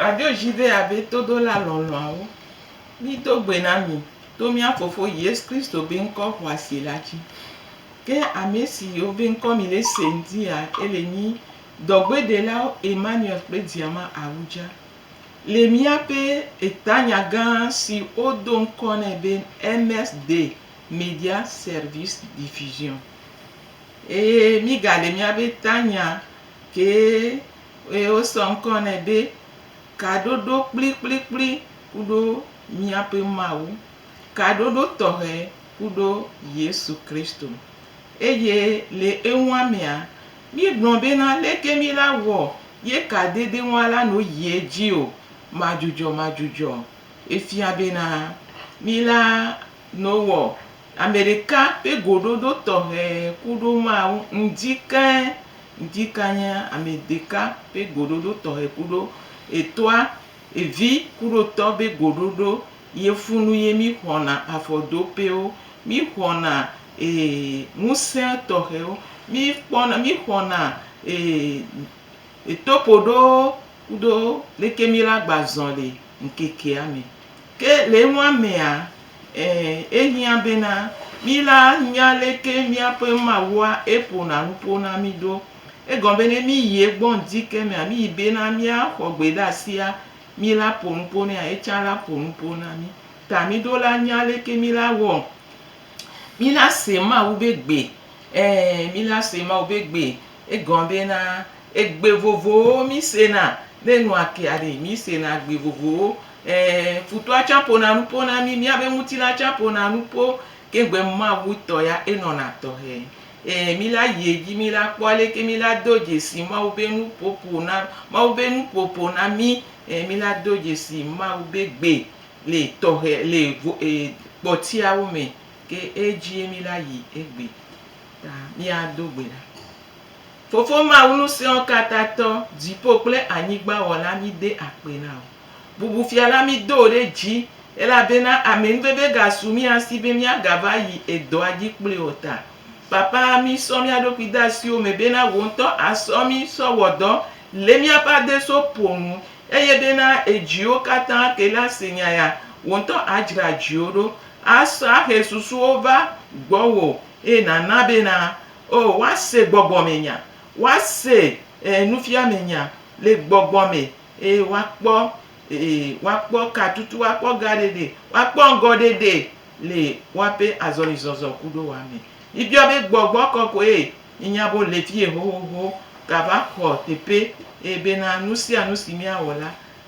Radio JW be todola lɔlɔ̃awo, mido gbe na mi to mía Fofo Yesu Kristo be ŋkɔ xɔasi la dzi. Ke ame siwo be ŋkɔ mile sem dia, ele nyi dɔgbedelawo Emmanuel kple Diama Awudja. Le míaƒe etanya gã si wodo ŋkɔ nɛ be MSD, Media Service Diffusion. Eye mígaɖe míaƒe tanya kee eye wosɔ ŋkɔ nɛ be Kaɖoɖo Kplikplikpli kuɖo Míaƒe Mawu, Kaɖoɖo Tɔxɛ kuɖo Yesu Kristo. Eye le enua mea, míegblɔ bena leke mí la wɔ ye kadede ŋua la no yi edzi o madzudzɔmadzudzɔ. Efia bena mí la no wɔ Ame ɖeka ƒe goɖoɖo tɔxɛ ku ɖo Mawu ŋdi keŋ ŋdi kanye ame ɖeka ƒe goɖoɖo tɔxɛ ku ɖo etɔa evi ku ɖo tɔ be goɖoɖo ye funu ye mi xɔna afɔdopewo, mi xɔna e ŋusẽ tɔxɛwo, mi kpɔna mi xɔna e etopoɖowo ku ɖo leke mi la gba zɔli ŋkekea me. Ke le enua mea, ẽ, ehiã bena mí la nya aleke míaƒe Mawua eƒona nuƒo na mí ɖo. Egɔme be ne míyi egbɔ ŋdike mea, míyi bena míaxɔ gbe ɖe asia, mí la ƒo nuƒo nɛa, etsã la ƒo nuƒo na mí. Ta mí ɖo la nya aleke mí la wɔ mí la se Mawu be gbe. Ẽ, mí la se Mawu be gbe. Egɔa bena egbe vovowo mí sena, ne nu ake aɖee mí sena gbe vovowo. E, futɔa tsã ƒona nuƒo na mí, míabe ŋutilã tsã ƒona nuƒo, ke egbe Mawu tɔ ya enɔna tɔxɛ. E, mí la yi edzi mí la kpɔ aleke mí la do dzesi Mawu be nuƒo ƒona, Mawu be nuƒo ƒona mí. E, mí la do dzesi Mawu be gbe le tɔxɛ, le vo, e, kpɔtiawo me. Ke edzie mí la yi egbe. Ta míado gbe ɖa. Fofo Mawu Ŋusẽɔkatatɔ, dziƒo kple anyigba Wɔla, míde akpe na wò. Bubu Fia la, mído wò ɖe dzi, elabena amenuveve gasu mía si be míagava yi edɔa dzi kpli o ta. Papa, mísɔ mía ɖokui de asiwò me bena wò ŋutɔ àsɔ mí sɔ wɔ dɔ le míaƒe adeso ƒo nu, eye bena edziwo katã ke la se nya ya, wò ŋutɔ adzra dziwo ɖo Asahe susuwo va gbɔwò eye nàna bena, Oo, woase gbɔgbɔmenya, woase e nufiamenya le gbɔgbɔ me eye woakpɔ e woakpɔ katutu, woakpɔ gaɖeɖe, woakpɔ ŋgɔɖeɖe le woaƒe azɔlizɔzɔ kuɖowa me. Mibiɔ be, Gbɔgbɔ kɔkɔe, míenya be wòle fie xoxoxo, gava xɔ teƒe eye bena nusianu si míawɔ la,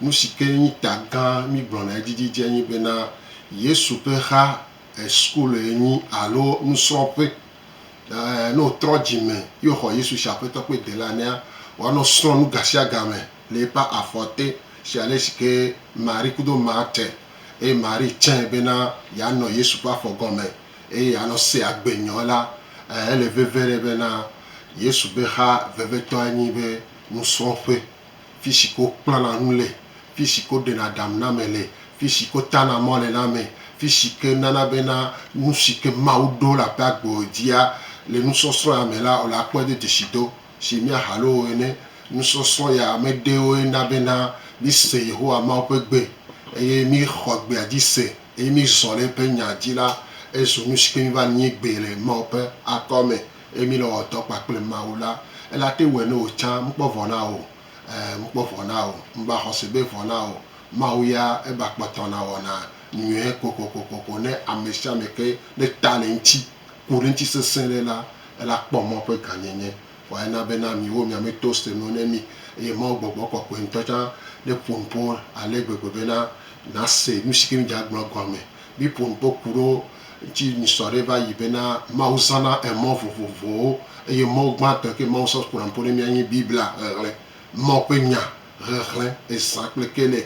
Nu si ke nyi ta gã mígblɔna edzidzidzi nye bena Yesu ƒe xa school ye nyi alo nusrɔ̃ƒe. Ɛɛ, ne wòtrɔ dzi me ye wòxɔ Yesu si Aƒetɔ kple Delila nea, wòanɔ srɔ̃ nu gasiagame le eƒe afɔ te si ale si ke Marie kudo Marthe eye Marie tsãe bena yeanɔ Yesu ƒe afɔ gɔme eye yeanɔ se agbe nyɔ la. Ɛɛ, ele veve ɖe bena Yesu ƒe xa vevetɔe nye eƒe nusrɔ̃ƒe. Fishi ke wo kplana nu le, fishi ke wo ɖena ɖam na ame le, fishi ke wo tana mɔ le na ame, fishi ke nana be na nushi ke Mawu ɖo le aƒea gbɔ dzia le nusɔsrɔ̃ ya me la, wole akpɔe do dzeshi do. Shi mía ha loo ene, nusɔsrɔ̃ ya me ɖewoe na be na mí se Yehowa Mawu ƒe gbe eye mí xɔ gbea dzi se eye mí zɔ le eƒe nya dzi la, ezu nushi ke mí va nyi gbee le Mawu ƒe akɔ me. Eye mí le wɔ dɔ kpakple Mawu la, ele ate ŋu wɔe ne wò tsã ŋkpɔ vɔ na wò o. Ẽ, ŋkpɔ vɔ na wò. Ŋgba xɔ se be vɔ na wò o. Mawu ya eba kpɔtɔ na wɔna nyuie kokokokoko ne ame sia ame ke ne ta le eŋuti, ku ɖe eŋuti sesẽ ɖe la, ele akpɔ mɔ ƒe gãnyenye. Vɔ ena be na miwo mia me to se nu ne mí. Eye Mawu gbɔgbɔ kɔkɔe ŋutɔ tsã ne ƒo nu ƒo ale gbegbe be na nàse nu si ke mí dze agblɔ gɔme Mi ƒo nu kpɔ ku ɖo ŋtsi mi sɔ ɖe va yi be na Mawu zana emɔ vovovowo eye mɔ gbã tɔ ke Mawu sɔ ku na ƒo ɖe mia nyi Biblia ʋeʋlɛ. Mawu ƒe nya ʋeʋlɛ ezã kple ke nɛ.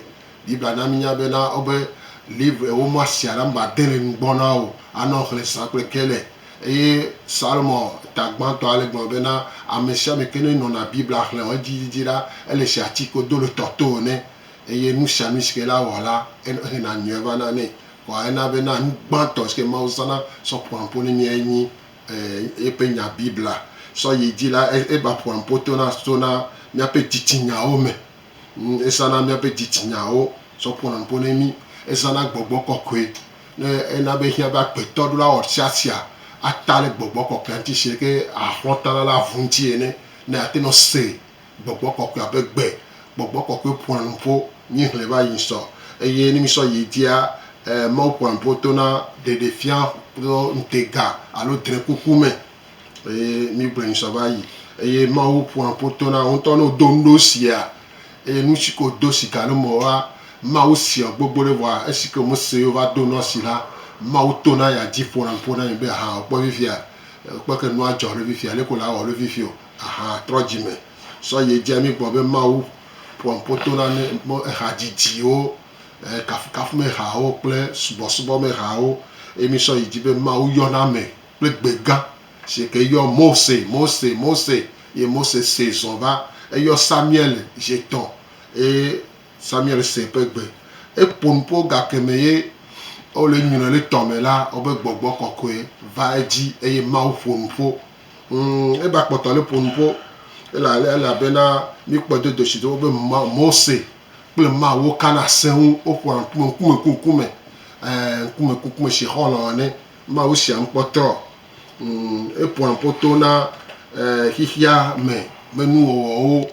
Biblia na mi nya be na wo be livre ewo mɔ asi aɖaŋ ba de le nugbɔ na wo a nɔ ʋlɛ zã kple ke nɛ. Eye Salomɔ ta gbã tɔ a le gblɔ be na amesiame ke ne nɔ na Biblia ʋlɛ o edzi dzidzi ɖa ele si atsi ko do le tɔ to ene. Eye nu sia nu si ke la wɔ la, exlẽna nyuie vana nɛ. Kɔa ena be na nu gbãtɔ si ke Mawu zãna sɔ ƒoa nuƒo ne mía enyi eƒe Nya Biblia. Sɔ yi dzi la, eva ƒoa nuƒo tona tona míaƒe dzitsinyaawo me. Ezãna míaƒe dzitsinyaawo sɔ ƒona nuƒo ne mí. Ezãna gbɔgbɔ kɔkɔe ne ena be ehiã be agbetɔ ɖo la wɔ ɖesiaɖesia ata ɖe gbɔgbɔ kɔkɔea ŋuti zi ɖe ke axlɔ̃ ta la le avu ŋuti ene ne yeate ŋu ase. Gbɔgbɔ kɔkɔea be gbe. Gbɔgbɔ kɔkɔe ƒoa nu ƒo mí hlɛ va yi sɔ eye ne mí sɔ yi dzia e Mawu ƒoa nu ƒo tona ɖeɖefia kple ŋutega alo dre kuku me eye mí gblɔe nu sɔ va yi eye Mawu ƒoa nu ƒo tona wo ŋutɔ ne wo do nuɖe wo sia eye nu si ke wo do si gale me woa Mawu seɔ gbogbo ɖe vɔa esi ke wome se ye wova do nua si la Mawu tona ya dzi ƒona nu ƒo na mi be hã wokpɔ vevia kpɔke nua dzɔ ɖe vevia leke wole awɔ ɖe vevio. Aha trɔ dzime sɔ yi edzi ami gbɔ be Mawu ƒoa ŋpo to na ne mɔ eha dzidziwo, e kafukafumehawo kple subɔsubɔmehawo eye mi sɔ yi dzi be Mawu yɔna ame kple gbe gã si eke yɔ Mose, Mose, Mose eye Mose see zɔ va. Eyɔ Samuel zi tɔ eye Samuel se eƒe gbe. Eƒo nuƒo gake me ye wole nyre le tɔ me la, wobe gbɔgbɔ kɔkɔe va edzi eye Mawu ƒo nuƒo. Umm eba kpɔtɔ le ƒonu ƒo ela ela bena mi kpɔ do doshi do be ma Mose kple ma wo kana seŋu wo ƒona ŋkume ŋkume ku ŋkume ɛɛ ŋkume ku ŋkume shi xɔlɔ ane ma wo shia ŋkpɔ trɔ umm eƒona ƒo to na ɛɛ xixia me me nuwɔwɔwo.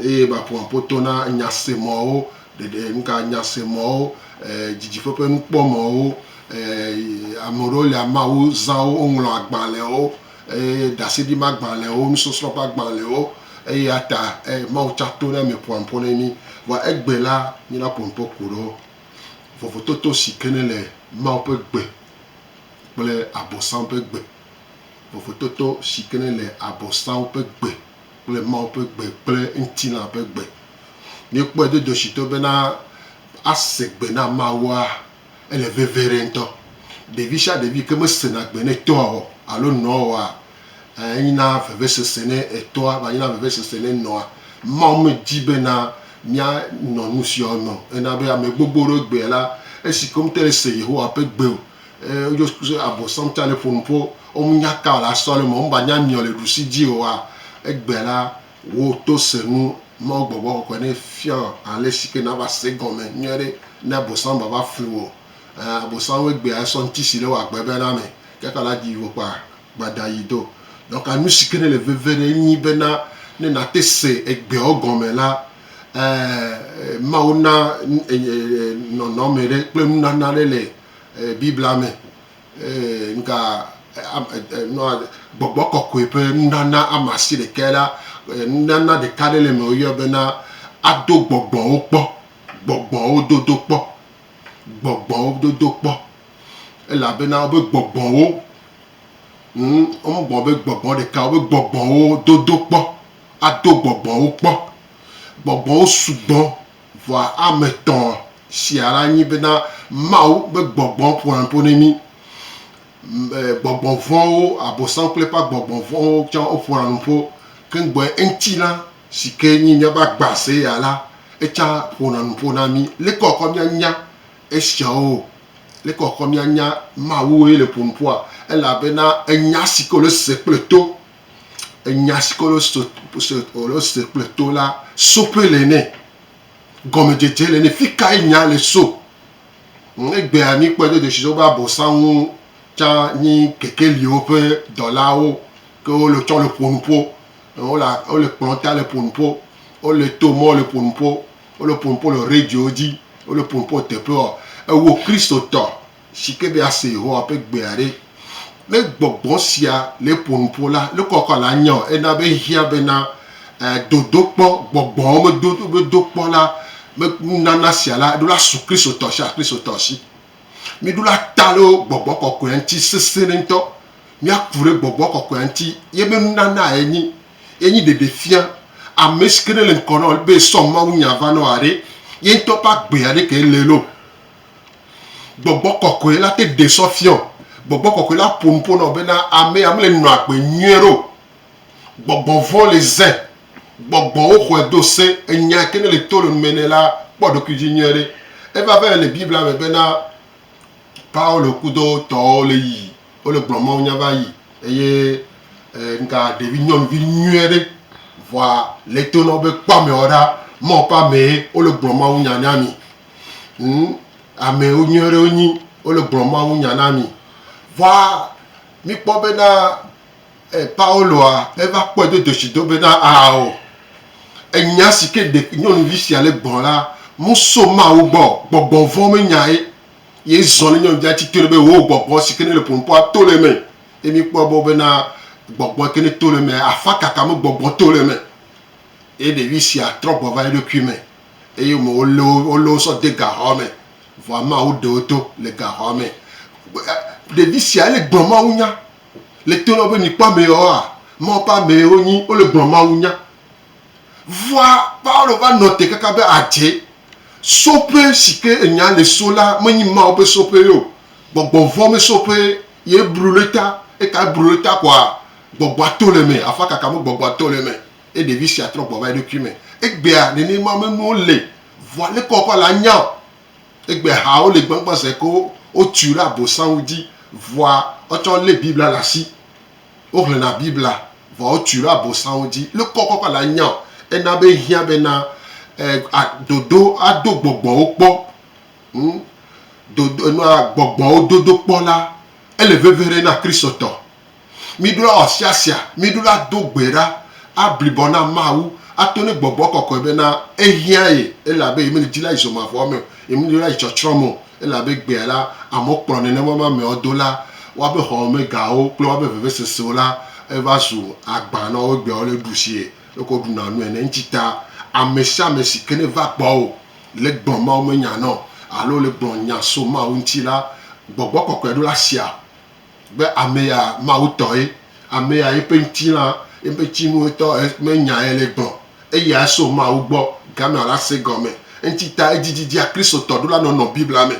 Eye maƒo apotɔ na nyasemɔwo, ɖeɖe nuka nyasemɔwo, didiƒe ƒe nukpɔmɔwo, ame aɖewo lia Mawu zã wo woŋlɔ agbalẽwo, ɖaseɖi ma agbalẽwo, nusɔsrɔ̃ ƒe agbalẽwo, eya ta Mawu tsa to na mi ƒoa nuƒo ne mi. Vɔa egbe la mina ƒo nuƒo ko ɖo vovototo si ke ne le Mawu ƒe gbe kple abosam ƒe gbe, vovototo si ke ne le abosam ƒe gbe. kple Mawu ƒe gbe kple ŋutilã ƒe gbe. Míekpɔe do dɔshitɔ bena ase gbe na Mawua, ele veve ɖe ŋutɔ. Ɖevi sia ɖevi yi ke mesena gbe ne tɔa o alo nɔa oa, enyina vevesese ne etɔa, va nyina vevesese ne nɔa. Mawu medi bena míanɔ nusiawo me o. Ena be ame gbogbo ɖewo egbea la, esi ke womete ŋu ase Yehowa ƒe gbe o, e wodzo kuso abosam tsa ne ƒonu ƒo ɔmu nya ka la sɔ le me ɔmu ba nya miɔ le ɖusi dzi oa egbe la wo to senu mawu gbɔgbɔ kɔkɔe ne fiɔ ale si ke na va se gɔme nyuie ɖe ne abosam va va flu o e abosam wo egbe esɔ ŋti si le wa gbe be na me ke ka la dzi wo kpa gbada yi do donc anu si ke ne le veve ɖe nyi be na ne na te se egbeɔ gɔme la e mawu na e e nɔnɔme ɖe kple nunana ɖe le Biblia me nuka gbɔgbɔ kɔkɔe ƒe nunana ame asi ɖeka la, nunana ɖeka ɖe le eme woyɔ bena ado gbɔgbɔwo kpɔ, gbɔgbɔwo dodo kpɔ, gbɔgbɔwo dodo kpɔ, elabena wobe gbɔgbɔwo, hm, womegblɔ be gbɔgbɔ ɖeka, wobe gbɔgbɔwo dodo kpɔ, ado gbɔgbɔwo kpɔ. Gbɔgbɔwo sugbɔ Vɔa ame tɔ̃ sia la nyi bena Mawu be gbɔgbɔ ƒona nu ƒo ne mí. Gbɔgbɔ vɔ̃wo, Abosam kple eƒe agbɔgbɔ vɔ̃wo tsã woƒona nu ƒo. Ke ŋgbɔe ŋutilã si ke nyi míaƒe agbase ya la, etsã ƒona nu ƒo na mí. Leke wòakɔ míanya esiawo? Leke wòakɔ míanya Mawue le ƒo nu ƒoa? Elabena enya si ke wòle se kple to. enya si ke wole se kple to la soƒe le nɛ, gɔmedzedze le nɛ, fi kae nya le so. Egbea míkpɔe do dzesi wobe abosãwo tsã nyi kekeliwo ƒe dɔlawo ke wole tsɔ le ƒo nu ƒo. Wole kplɔ ta le ƒo nu ƒo, wole to mɔ le ƒo nu ƒo, wole ƒo nu ƒo le radio dzi, wole ƒo nu ƒo teƒeɔ. Ewò Kristotɔ si ke be ase Yehowa ƒe gbea ɖe. Ne gbɔgbɔ sia le ƒo nu ƒo la, nukɔ kɔ la nya o. Ena be hiã bena dodokpɔ, gbɔgbɔwo me dodokpɔ la, me nunana sia la, ɖo la su Kristotɔ sia Kristotɔ si. Mi ɖo la ta ɖo gbɔgbɔ kɔkɔea ŋuti sese ɖe ŋutɔ. Mia ku ɖe gbɔgbɔ kɔkɔea ŋuti ye ƒe nunana ye nyi. Ye nyi ɖeɖe fia ame si ke ne le ŋkɔ na wò be sɔ Mawu nya va na wòa ɖe. Ye ŋutɔ ƒe agbea ɖe ke le loo. Gbɔgbɔ kɔkɔe la te ɖe sɔ fiɔ. Gbɔgbɔ kɔkɔe la ƒo nu ƒo nɔ bena amea mele nɔ agbe nyuie ɖe o. Gbɔgbɔ vɔ̃ le ze. Gbɔgbɔwo xɔe do se. Enya yi ke ne le to le nu me nɛ la kpɔ eɖokui dzi nyuie ɖe. Eva vɛ le Biblia me bena Paulo kudo tɔwo le yi wo le gblɔ Mawu nya va yi eye ŋka ɖevi nyɔnuvi nyuie ɖe vɔa le to nɔ wo be kpɔ ameawo ɖa. Mawu ƒe amee wo le gblɔ Mawu nya na mi. Ŋu, ame nyui aɖewo wonyi. Wole gblɔ mawunya na mi. Vɔa míkpɔ bena Pauloa eva kpɔe do dzesi do bena, Ao, enya si ke ɖe nyɔnuvi sia le gbɔ la, meso Mawu gbɔ o. Gbɔgbɔ vɔ̃ menyae ye zɔ ne nyɔnuvia tsi tre be, Wò gbɔgbɔ si ke nele ƒoƒoa to le eme. Ye míkpɔ gbɔ bena gbɔgbɔ yi ke neto le emea, afakaka me gbɔgbɔ to le eme. Ye ɖevi sia trɔ gbɔ va eɖokui me. eye wome wolé wo wolé wo sɔ de gaxɔa me vɔ amea woɖe wo to le gaxɔa me. Ɖevi sia ele gblɔ Mawu nya le to na be mikpɔ ameyewoa Mawu ƒe amee wonyi wole gblɔ Mawu nya. Vɔa Paulo va nɔ te kaka be adze soƒe si ke enya le so la menyi Mawu ƒe soƒee o, gbɔgbɔ vɔ̃ me soƒee ye blu le ta, eka blu le ta koa gbɔgbɔa to le eme, afakaka me gbɔgbɔa to le eme. Ye ɖevi sia trɔ gbɔ va eɖokui me. Egbea nene ma me nuwo le. Vɔa leke wɔƒe ale anya o. Egbea ha wo le gbãgbã se ke wo tui ɖe abosã ŋu dzi. Vɔa wotsã wo le Biblia le asi. Wo hlena Biblia vɔa wo tui ɖe abosã ŋu dzi. Leke wɔƒe ƒe ale anya o. Ena be ehiã be na a dodo a do gbɔgbɔwo kpɔ. Ŋm dodo nua gbɔgbɔwo dodo kpɔ la ele veve ɖe na Kristotɔ. Miɖo la wɔ sia sia, miɖo la do gbe ɖa, ablibɔ na Mawu, ato ne gbɔgbɔ kɔkɔe be na ehiã ye, elabe ye meli dzi la yi zɔ mavɔ me o, ye meli la yi tsɔtsrɔ̃ me o, elabe gbea la amewo kplɔ nɛ ne woama ameawo do la, woabe xɔmegawo kple woabe vevesesewo la eva zu agbã na wobe gbeawo le ɖusi ye leke woɖuna nu ene. Ŋuti ta ame sia ame si ke ne va gbɔwò le gblɔ Mawu me nya na wò alo le gblɔ nya so Mawu ŋuti la, gbɔgbɔ kɔkɔe ɖo la sia. be ame ya Mawu tɔ ye, ame ya yeƒe ŋutilã, yeƒe tsinu etɔ menya ye le gblɔ, eyae so Mawu gbɔ Ghana la se gɔme. Eŋuti ta edzidzidzia Kristotɔ ɖo la nɔnɔ Biblia me.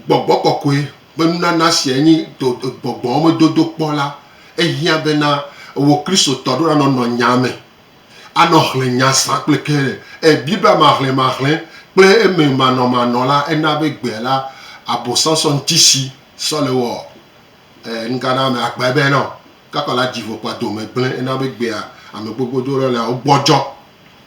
Gbɔgbɔ kɔkɔe ƒe nunana siae nye gbɔgbɔwo me dodokpɔ la. Ehiã bena wò Kristotɔ ɖo la nɔnɔ nyaa me. anɔ xlẽ nya zã kple ke ɖe? Ẽ, Biblia me ahlɛmahlɛ kple eme manɔmanɔ la, ena be gbea la, Abosam sɔ ŋuti si sɔ le wɔ ẽ, nugana ame akpa ebe ene o. Gakɔ la, dzi vo kpa dome gblẽ, ena be gbea ame gbogbo do ɖe la, wogbɔdzɔ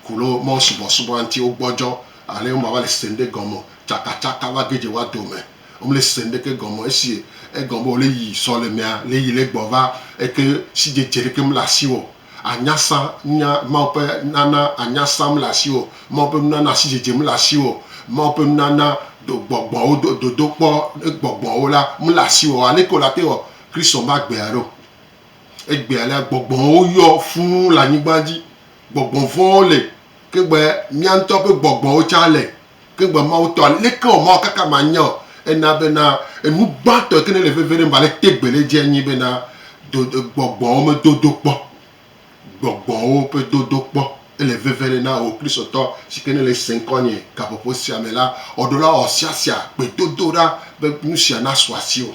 ku ɖe wo Mawu subɔsubɔa ŋuti, wogbɔdzɔ ale womava le se ŋɖe gɔme o. Tsakatsaka va ge dze woa dome. Womele se ŋɖeke gɔme o. Esi egɔme be wole yi sɔ le mea, le yi le gbɔ va, eke sidzedze ɖeke mele asiwò o. anyasã nya, Mawu ƒe nana anyasã mele asiwò, Mawu ƒe nunana asidzedze mele asiwò, Mawu ƒe nunana do gbɔgbɔwo do dodokpɔ ne gbɔgbɔwo la mele asiwò o. Aleke wòle ate wɔ Kristo ƒe agbea ɖo? Egbea la, gbɔgbɔwo yɔ fũu le anyigba dzi. Gbɔgbɔ vɔ̃wo li, ke be mía ŋutɔ ƒe gbɔgbɔwo tsã li. Ke gbe Mawu tɔ aleke o, Mawu kaka manya o. Ena bena enu gbãtɔ yi ke ne le veve ɖem va le tegbee ɖe dzie nye bena do gbɔgbɔwo me dodo kpɔ. Gbɔgbɔwo ƒe dodo kpɔ. Ele veve ɖe na wò Kristotɔ si ke ne le ese ŋkɔnye gaƒoƒo sia me la, ɔɖola ɔsiasia gbedodoɖa be nusia nasu asiwò.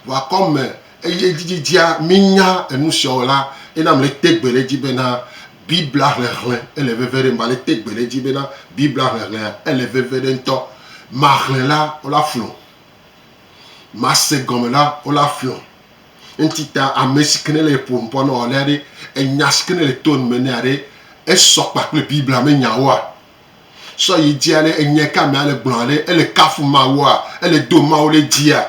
ʋakɔ me eye edzidzidzea mínya enu siawo la, ena mete gbe ɖe edzi bena Biblia hlẽhlẽ ele veve ɖem. Mate gbe ɖe edzi bena Biblia hlẽhlẽa ele veve ɖem ŋutɔ. Mahlẽ la, wole aflɔm. Mase gɔme la, wole aflɔm. Eŋuti ta ame si ke ne le ƒom kpɔ na wò alea ɖe, enya si ke ne le to nu me nɛ aɖe esɔ kpakple Biblia me nyawoa? sɔ yi dzia ne enya ka me ale gblɔa ɖe ele kafu mawua ele do mawo ɖe dzia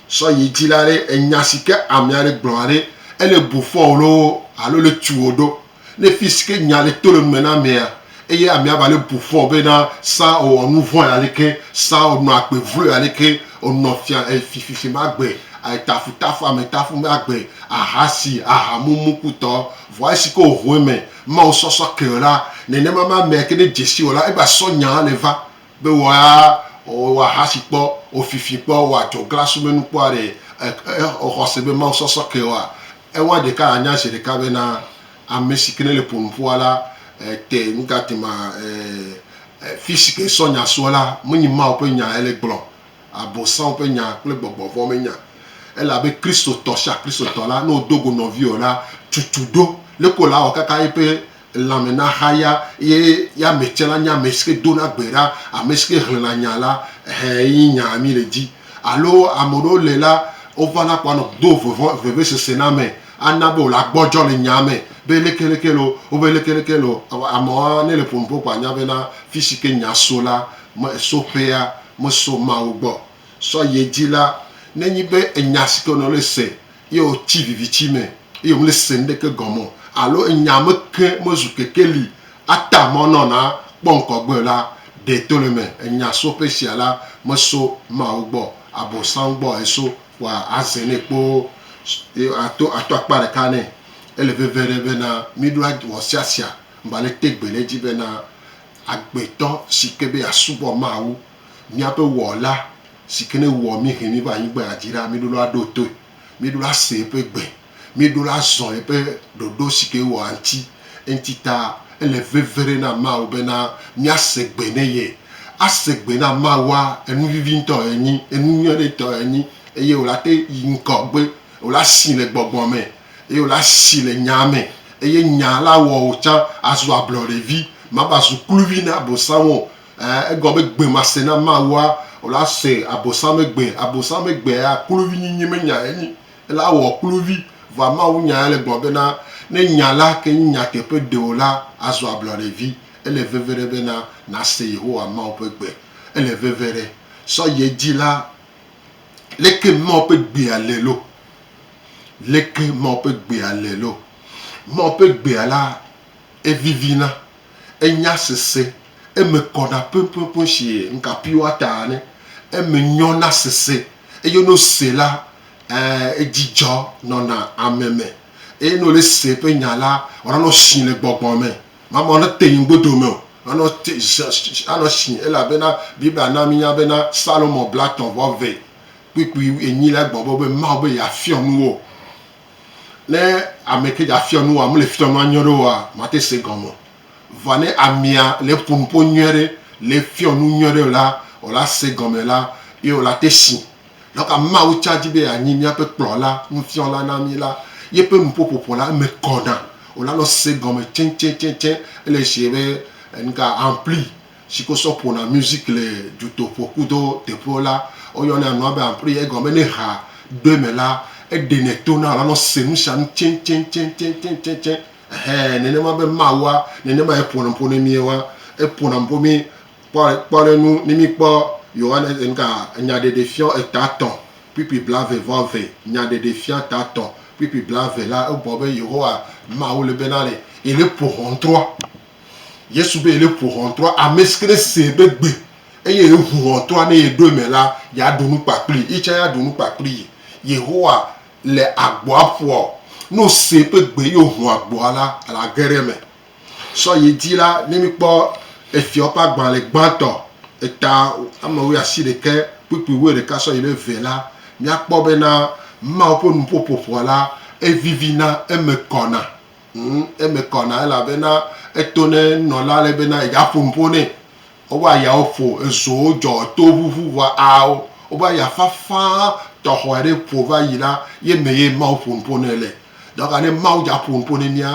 sɔ yi dzi la ɖe enya si ke ame aɖe gblɔa ɖe ele bu fɔwo ɖo alo le tuwo ɖo ne fi si ke nya le to le nume na amea eye amea va le bu fɔ be na sa owɔ nu vɔ̃ ya leke sa onɔ agbe vlo ya leke onɔ fia efififi ma agbe etafutafu ametafu ma agbe ahasi ahamumukutɔ vɔ esi ke ohoe me Mawu sɔsɔ ke o la, nenema ma mea ke ne dzesi o la, egba sɔ nyaa ne va be wɔ ya wɔ ahasi kpɔ, wɔ fifi kpɔ, wɔ adzɔ gla sume nu kpɔ aɖe. Exɔ xɔse be Mawu sɔsɔ ke oa? Eŋua ɖeka a nya zeɖeka be na ame si ke ne le ƒonu ƒua la, te nu ga te ma, e, e, fisi ke sɔ nya soa la, menyi Mawu ƒe nya ele gblɔ Abosam ƒe nya kple gbɔgbɔ vɔ̃ me nya. Ele abe Kristotɔ sia Kristotɔ la, ne wòdo go nɔviwò la, tutu ɖo. Leke wòle awɔ kaka eƒe lãme nahaya ye ya ame tsɛ nanye ame si ke dona gbe ɖa, ame si ke hlẽna nya la? Ɛhɛ ye nyaa mí le di. Alo ame aɖewo le la, wovana ko anɔ do vevɔ, vevesese na ame, ana be wòle agbɔdzɔ le nyaa me be leke leke lo, wobe leke leke lo. Amewo ne le ƒonuƒo koa, anya bena fi si ke nya so la, me, so ƒea, Meso Mawu gbɔ sɔ ye dzi la, nenyi be enya si ke wònɔ le se ye wòtsi vivitsi me eye wòmele se nuɖeke gɔme o alo enya me ke mezu kekeli ata mɔ nɔ na kpɔ ŋkɔgbe o la, ɖee to le eme. Enya so ƒe sia la, meso Mawu gbɔ, Abosam gbɔ eso, vɔa aze nɛ kpoo ye ato ato akpa ɖeka nɛ. Ele veve ɖe bena míɖo wɔ sia sia ŋgba le te gbe ɖe edzi bena agbetɔ si ke be yeasubɔ Mawu, míaƒe Wɔla si ke ne wɔ mí he mí va anyigba ya dzi ɖa, míɖo la aɖo toe, míɖo la ase eƒe gbe, míɖo la azɔ eƒe ɖoɖo si ke ewɔa ŋuti. Eŋuti ta ele veve ɖe na Mawu bena míase gbe ne ye. Ase gbe na Mawua, enu vivi ŋutɔ ye nyi, enu nyui aɖe ŋutɔ ye nyi eye wòlate yi ŋgɔgbe, wòle asi le gbɔgbɔ me. eye wòle asi le nyaa me, eye nyaa la awɔ wò tsã azu ablɔɖevi, mava zu kluvi na Abosam o. Ẽ, egɔme be gbemasẽ na Mawua, wòle asẽ abosamegbe. Abosamegbea, kluvinyinyi menyae enyi. Ele awɔ kluvi. Vɔa mawunyae le gblɔm bena, ne nya la ke nye nyateƒe ɖe o la, azu ablɔɖevi. Ele veve ɖe bena nàse Yehowa Mawu ƒe gbe. Ele veve ɖe. Sɔ yi edzi la, leke Mawu ƒe gbea le lo! Leke Mawu ƒe Gbea le loo? Mawu ƒe Gbea la, evivina, enya sese, eme kɔna ƒeƒeƒe si ŋkapiwa ta ne, eme nyɔna sese, eye ne wose la, ee, dzidzɔ nɔna ame me, eye ne wole se eƒe nya la, wònanɔ asi le gbɔgbɔ me. Mamɔ ne te yin godo me o. Anɔ te, anɔ asi elabena Biblia na mínya bena Salomo bla tɔ̃ vɔ vɛ. kpukpui enyi la gbɔ be Mawu be yeafiɔ nu wo. Ne ame ke dzafiɔ nu woa, mele fiɔ nua nyuie ɖe woa, mate se egɔme o. Vɔa ne amea le ƒo nu ƒo nyuie ɖe, le fiɔ nu nyuie ɖe la, wò la se egɔme la, ye wò la te si. Nɔ ka Mawu tsã di be yeanyi míaƒe kplɔla, nufiɔla na mí la? Yeƒe nuƒoƒoƒo la, eme kɔna. Wò la nɔ se egɔme tsɛtsɛtsɛtsɛ. Ele sie be, enu ka, ampli si ke wosɔ ƒona music le dutoƒo kudo teƒewo la, woyɔnɛ nua be ampli. Egɔme be ne ha ɖo eme la, eɖenɛ tona wòla nɔ se nu sia nu tsɛtsɛtsɛtsɛtsɛtsɛtsɛ. Ɛhɛ, nenema be Mawua, nenema ye ƒona nuƒo ne mía wa. Eƒona nuƒo mí. Kpɔ, kpɔ ɖe nu, ne mí kpɔ Yohanes, nuka, Nyaɖeɖefiɔ eta tɔ̃ kpukpui blave vɔ eve, Nyaɖeɖefiɔ eta tɔ̃ kpukpui blave la, egblɔ be Yehowa Mawu le be na le, ele ƒo hɔntrɔa. Yesu be yele ƒo ʋɔntrɔa, amesike ne sɛ be gbe eye ye ʋu ʋɔntrɔa ne ye ɖo eme la, ya ɖu nu kpakpli yi tsã ya ɖu nu kpakpli yi. Yehowa le agboa ƒoa o. Ne wo sɛ be gbe eye wo ʋu agboa la, la ge ɖe eme. Sɔ yi dzi la, ne mi kpɔ Efiawo ƒe agbalẽ gbãtɔ, eta ame wuiasi ɖekɛ kpukpui wuiɖeka sɔ yi ɖe eve la, mia kpɔ be na Mawu ƒe nuƒo ƒoƒoa la, evivi na eme kɔna. Ŋ, eme kɔ na elabena eto ne nɔla ale bena yedza ƒo nuƒo nɛ. Woƒe ayawo ƒo, ezowo dzɔ, etowo ʋuʋu vɔ aawo. Woƒe aya fafã tɔxɔe ɖe ƒo va yi la, ye me ye Mawu ƒo nuƒo nɛ le. Dɔka ne Mawu dza ƒo nuƒo ne mía,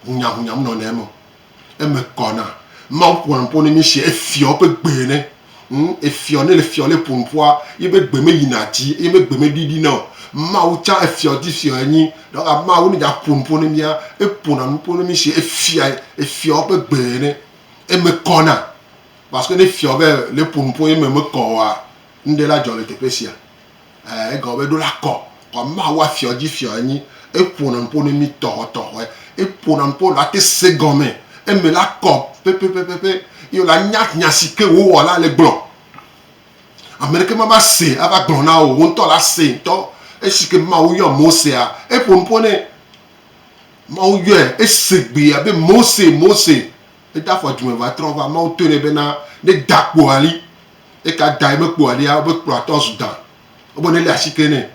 ŋunyaŋunya menɔna eme o. Eme kɔ na Mawu ƒona nuƒo ne mí si efiɔ eƒe gbe ene. Ŋ, efiɔ ne le fiɔ le ƒo nuƒoa, yibe gbe me yina dzi eye yibe gbe me ɖiɖina o. Mawu tsã efiɔ di fiɔ enyi. Donc Mawu ne dza ƒo nuƒo ne mía, eƒona nuƒo ne mí si efia, efiɔ eƒe gbe ene. Eme kɔ na. Parce que ne fiɔ be le ƒo nuƒo ye eme mekɔ oa, nuɖe la dzɔ le teƒe sia. Ɛɛ, egɔme be ɖo la kɔ. Kɔ Mawu afiɔ dzi fiɔ enyi. Eƒo na ŋpo ne mi tɔxɔ tɔxɔɛ. Eƒo na ŋpo la te se gɔme. Eme la kɔ pɛpɛpɛpɛpɛ ye wo la nya nya si ke wo wɔ la le gblɔ. Ame ɖeke ma va se ava gblɔ na wò o. Wo ŋutɔ la se ŋutɔ. Esi ke Mawu yɔ Mosea, eƒo nuƒo nɛ. Mawu yɔɛ, ese gbe ya be Mose, Mose. Eda afɔ dzime va trɔ va. Mawu tɔe nɛ be na ne da kpoali. Eka dae mekpɔa ɖia wobe kplɔatɔ zu da. Wobe ne le asi ke nɛ.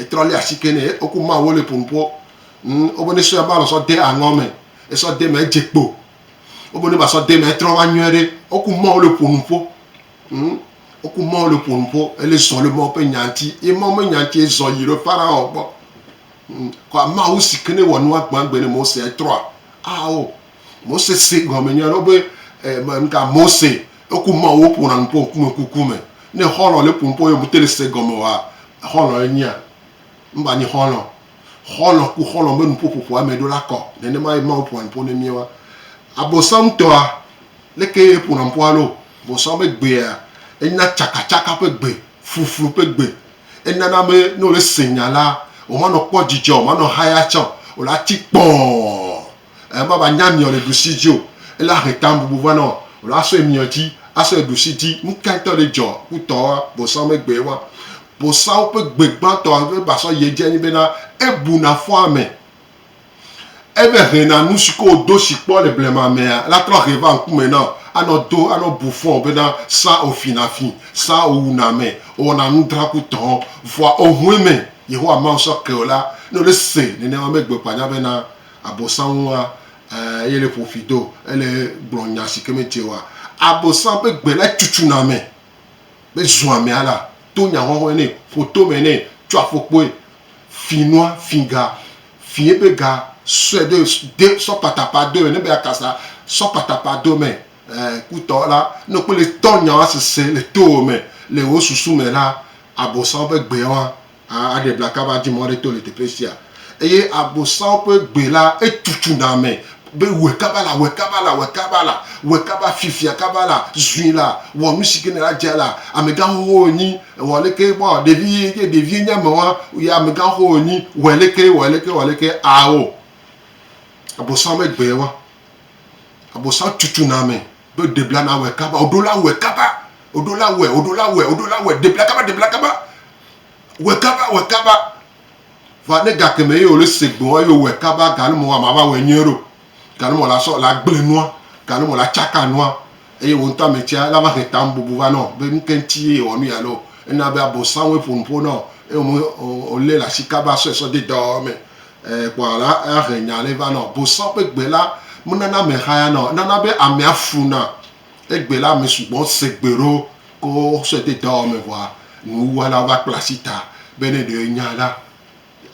Etrɔ le asi ke nɛ. Woku ma wo le ƒonu ƒo. Ŋ, wobe ne sɔe ba lɔ sɔ de aŋɔ me. Esɔ de me edze kpo. Wobe ne ba sɔ de me etrɔ va nyɔe ɖe. Woku ma wo le ƒonu ƒo. Ŋ, woku ma wo le ƒonu ƒo. Ele zɔ le ma ƒe nya ŋti. Ye ma ƒe nya ŋti ezɔ yi ɖe Faraɔ gbɔ. Ŋ, kɔa Mawu si ke ne wɔ nua gbãgbe ne Mose etrɔa, ao. Mose se gɔme nyuie ɖe be mka Mose eku ma wo ƒona nu ƒo ŋkume kuku me. Ne xɔlɔ le ƒo nu ƒo ye mete le se gɔme wa xɔlɔ ye nyia? Mba nyi xɔlɔ. Xɔlɔ ku xɔlɔ me nu ƒo ƒoƒo ame ɖo la kɔ. Nene ma ye Mawu ƒona nu ƒo ne mía wa. Abosam tɔa leke ye ƒona nu ƒo alo? Abosam be gbea enya tsaka tsaka ƒe gbe, fluflu ƒe gbe. Enana be ne wo le se nya la, wo ma nɔ kpɔ dzidzɔ, wo ma nɔ haya tsã o. Wo la tsi kpɔɔ. Ema va nya miɔ le ɖusi dzi o. Ele ahe ta bubu va nɔ lo asɔe miɔ dzi, asɔe ɖusi dzi. Nuka ŋtɔ le dzɔ ku tɔ wa? Bosã be gbe wa. Bosãwo ƒe gbe gbãtɔ yi va sɔ yi edzi enyi bena ebu na fɔ ame. Eve he na nu si ke wo do si kpɔ le blema mea la trɔ he va ŋkume nɔ anɔ do anɔ bu fɔ bena sã wo fi na fi, sã wo wu na ame, wo wɔna nu dra ku tɔ. Vɔa ohueme Yehowa Mawu sɔ ke wo la, ne wo le se nenema me gbe kpɔ anya bena Abosam ŋua, e, ye le ƒo fi do, ele gblɔ nya si ke medze oa. Abosam ƒe gbe lae tutsuna ame be zua ame alea, to nya hɔhɔe nɛ, ƒo tome nɛ, tsɔ afɔkpoe, fi nua, fi ga, fi eƒe ga, sɔe ɖo, de sɔ patapa do ene be yeakasa, sɔ patapa do eme. E, kutɔ la, ne wokpɔe le tɔ nyawoa sese le towò me, le wò susu me la, Abosam ƒe gbe wa. aɖe bla kaba adi mɔ aɖe to le teƒe sia. Eye Abosam ƒe gbe la, etutsuna ame be wɔe kaba la, wɔe kaba la, wɔe kaba la, wɔe kaba fiafia kaba la, zui la, wɔ nu si ke nèle adze la. Amegãxoxo wònyi, wɔ aleke bɔ, ɖevi ye nye, ɖevi ye nye ame wa, ye amegãxoxo wònyi, wɔ aleke, wɔ aleke, wɔ aleke, ao. Abosam ƒe gbe wa. Abosam tutsuna ame Ɖo debla na wɛ kaba, woɖo la wɛ kaba, woɖo la wɛ, woɖo la wɛ, woɖo la wɛ, debla kaba, debla kaba, wɛ kaba, wɛ kaba. Vɔa ne gake me ye wòle ese gbeɔ, eye wòwɛ kaba, gale mɔ wòamava wɛ nyuie ɖo. Gale mɔ lasɔ la gble nua, gale mɔ la tsaka nua, eye wò ŋutɔ ame tsia lava he tanububu va nɔ be nuke ŋti ye yewɔ nuya loo. Ena be Abosam woe ƒo nuƒo nɔ eye wòlé le ashi kaba sɔe sɔ de dɔwɔwɔ me. Kpɔ alea ahe nya aɖe va nɔ bosɔ ƒe gbe la menana ame xaya na o. Enana be amea funa. Egbe la ame sugbɔ se gbe ɖo ko sɔe de dɔwɔwɔ me vɔa nuwuwɔlawo va kpla asi ta be ne ɖe enya la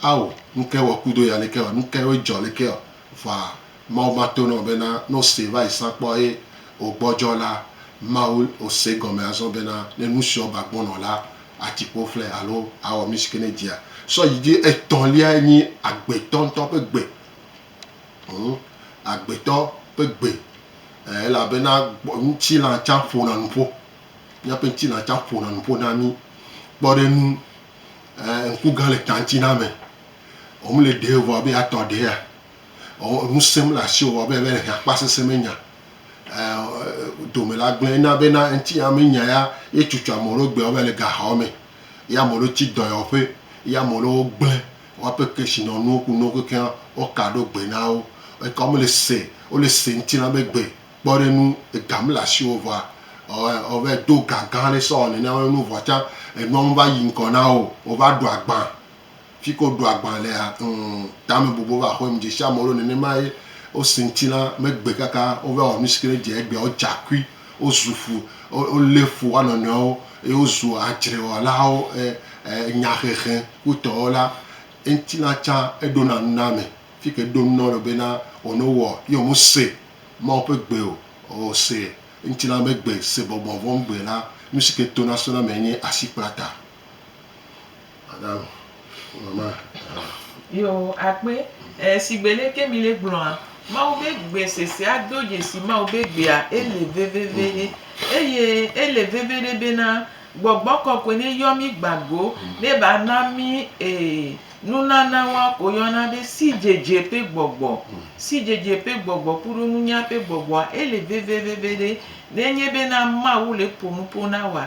ao nukae wɔ kudo ya leke ɔ nukae dzɔ leke ɔ vɔa Mawu mato na wò bena ne wò se va yi sa kpɔ eye wò gbɔdzɔ la Mawu wò se gɔme azɔ bena ne nusiɔ va gbɔnɔ la Atikpo ƒlɛ alo awɔ nu si ke ne edzia sɔ yi dzi. Etɔ̃liae nyi agbetɔ ŋutɔ ƒe gbe. Hm, agbetɔ ƒe gbe. Ɛɛ, elabena ŋutilã tsã ƒona nu ƒo. Míaƒe ŋutilã tsã ƒona nu ƒo na mí. Kpɔ ɖe ŋu, ɛɛ, ŋku gã le ta ŋuti na ame. Womele ɖee vɔ be atɔ ɖea? ɔɔ ŋusẽ mele asiwò abe alebe hiã kpa sesẽ me nya ɔɔ dome la gblẽ ena be na eŋuti ame nya ya ye tutu ame ɖewo gbe abe le gaxɔ me ye ame ɖewo tsi dɔyɔƒe ye ame ɖewo gblẽ woaƒe kesinɔnuwo ku nuwo kekeŋ woka ɖo gbe na wo eke wo mele se wo le se ŋuti na be gbe kpɔ ɖe nu ega mele asiwò vɔa ɔɔ ɔɔ va yi do gã gã ɖe sɔ wɔ nene woa be nu vɔa tsã enua me va yi ŋgɔ na wo o wova ɖu agbã. Fike woɖo agbã lea, ŋ, tame bɔbɔ va xɔe. Medzesi amewo ɖo nenema ye wose ŋutilã megbe kaka wova wɔ nusi ke ne dze egbea wodza kui, wozu ƒu, wo, wolé fu woanɔnɔewo eye wozu adzrewɔlawo, e, e, nyahehe kutɔwo la, ŋutilã tsã eɖona nu na ame. Fike eɖo nu na wo le bena, wɔ ne wowɔ ye womese Mawu ƒe gbe o, o, se ŋutilã be gbe, se gbɔgbɔ vɔ̃ gbe la, nusi ke tona sɔna mee nye asikplata. Madam, mama, aha. Yo, akpe, e, shigbe lé ke mi lé gblɔa, Mawu be gbe sesea do dzesi Mawu be gbea, ele veveveɖe. Eye ele veveɖe bena Gbɔgbɔ Kɔkɔe ne yɔ mi gba go, ne ba na mi, e, nunana wa ko yɔna be sidzedze ƒe gbɔgbɔ. Sidzedze ƒe gbɔgbɔ kuɖo nunya ƒe gbɔgbɔa, ele veveveveɖe. Ne nye bena Mawu le ƒo nuƒo na wa,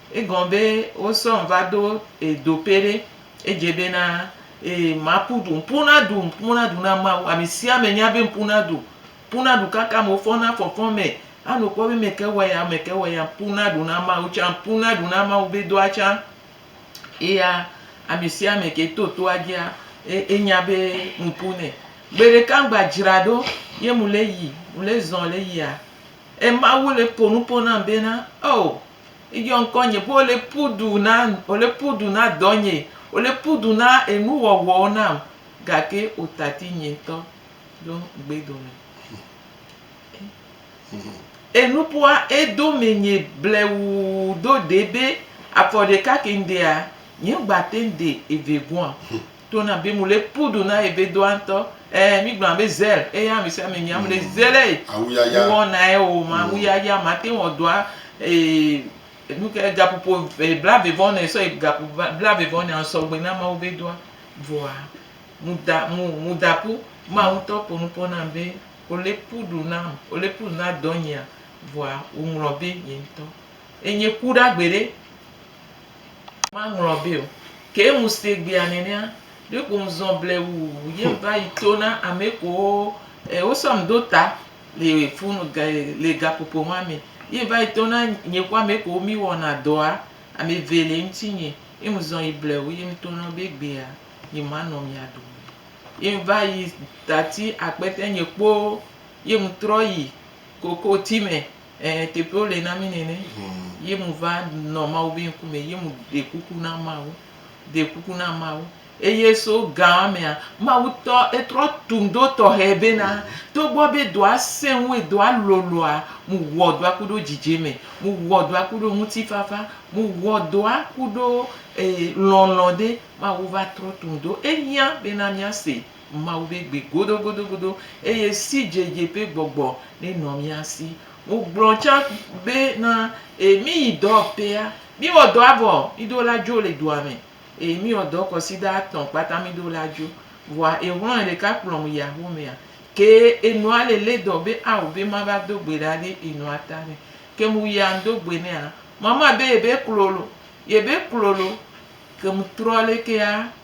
Egɔn be wo sɔn va do e do pe ɖe edze be na e ma pu ɖu ŋpu na ɖu ŋpu na ɖu na mawu ame sia ame nya be ŋpu na ɖu ŋpu na ɖu kaka me wofɔ na fɔfɔ me a nɔ kpɔ be me ke wɔ ya me ke wɔ ya ŋpu na ɖu na mawu tsa ŋpu na ɖu na mawu be doa tsa eya ame sia ame ke to toa dzia e enya be mu pu nɛ gbe ɖeka ŋgba dzra ɖo ye mu le yi mu le zɔn le yia emawu le po nupo nam be na o Eyɔ ŋkɔnye be wole ƒu du na, wole ƒu du na dɔnye, wole ƒu du na enuwɔwɔwo nam, gake wotati nye ŋutɔ ɖo gbe dome. Enuƒoa edo menye blewuu do ɖee be afɔ ɖeka ke ŋɖea, nyeŋgbate ŋɖe eve gɔ̃a. To na be mule pu du na ebe doa ŋtɔ. Ɛɛ, mi gblɔna be zell eya amesiame nyi amle mm. zell eye. Awu yaya. Wɔ na ye o ma awu mm. yaya ma te wɔ doa ee nuke gapupo e bla vevɔ ne sɔ gapu bla vevɔ ne sɔ gbe na mawu be doa voa muda mu mudapu ma mm. ŋtɔ po nupɔ na be ole pu du na ole pu du na dɔ nyia voa wo ŋlɔ be nye ŋtɔ. Enye ku ɖa gbe ɖe. Maŋlɔ be o. Ke ŋu se gbea nenea, ɖe ko ŋzɔn ble wu ye ŋva yi to na ame kowo e wo sɔ ŋdo ta le fonu ga e le gaƒoƒo ma me. Ye ŋva yi to na nye ku ame kowo mi wɔna dɔa, ame eve le ŋtinye. Ye ŋzɔn yi ble wu ye ŋto na wo be egbea nye ma nɔ mia dome. Ye ŋva yi tati akpete nye kpoo ye ŋtrɔ yi kokoti me. Ẽ, teƒewo le na mí nɛnɛ. Ye mu va nɔ Mawu be ŋkume, ye mu ɖe kuku na Mawu, ɖe kuku na Mawu. Eye so gã mea, Mawu tɔ, etrɔ tu ŋdo tɔxɛ bena, togbɔ be dɔa sẽ ŋu, dɔa loloa, mu wɔ dɔa ku ɖo dzidzeme, mu wɔ dɔa ku ɖo ŋutifafa, mu wɔ dɔa ku ɖo, e, lɔlɔ̃ ɖe. Mawu va trɔ tu ŋdo. Ehiã bena mía se Mawu ƒe gbe godogodogodo, eye sidzedze ƒe gbɔgbɔ nenɔ mía si. Wogblɔ tsã be, Na e míyi dɔwɔƒea. Míwɔ dɔa vɔ, míɖo la dzo le dua me, eye míwɔ dɔ kɔsida atɔ̃ kpata míɖo la dzo. Vɔa exlɔ̃e ɖeka kplɔm yi axomea. Ke enɔa le lé dɔ be ao be mava do gbe ɖa ɖe enɔa ta nɛ. Kem wuyea ŋdo gbe nɛa? Mama be yebe klolo, yebe klolo. Kem trɔ lekea?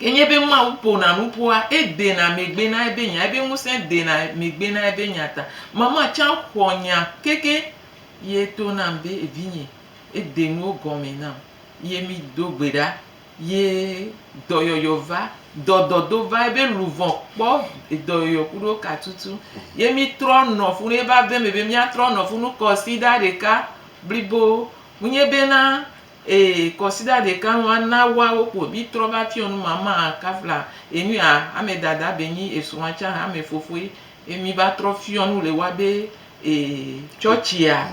Enye be Mawu ƒona nu ƒua, edena megbe na ebe nya, ebe ŋusẽ dena megbe na ebe nya ta. Mama tsã xɔ nya keke ye to nam be vinye, ede nuwo gɔme nam ye mi do gbe ɖa ye dɔyɔyɔ va, dɔdɔdo va ebe luvɔ kpɔ dɔyɔyɔ kuɖo ka tutu ye mi trɔ nɔ ƒu ne va ve me be mia trɔ nɔ ƒu nu kɔsiɖa ɖeka blibo. Ŋunye be na Ee, kɔsiɖa ɖeka ŋu a na wa wo kpo bi trɔ va fiɔ nu ma ma a ka fla enu a ame dada be nyi e srɔa can ame fofo yi e mi va trɔ fiɔ nu le wa be ee tsɔtsi a.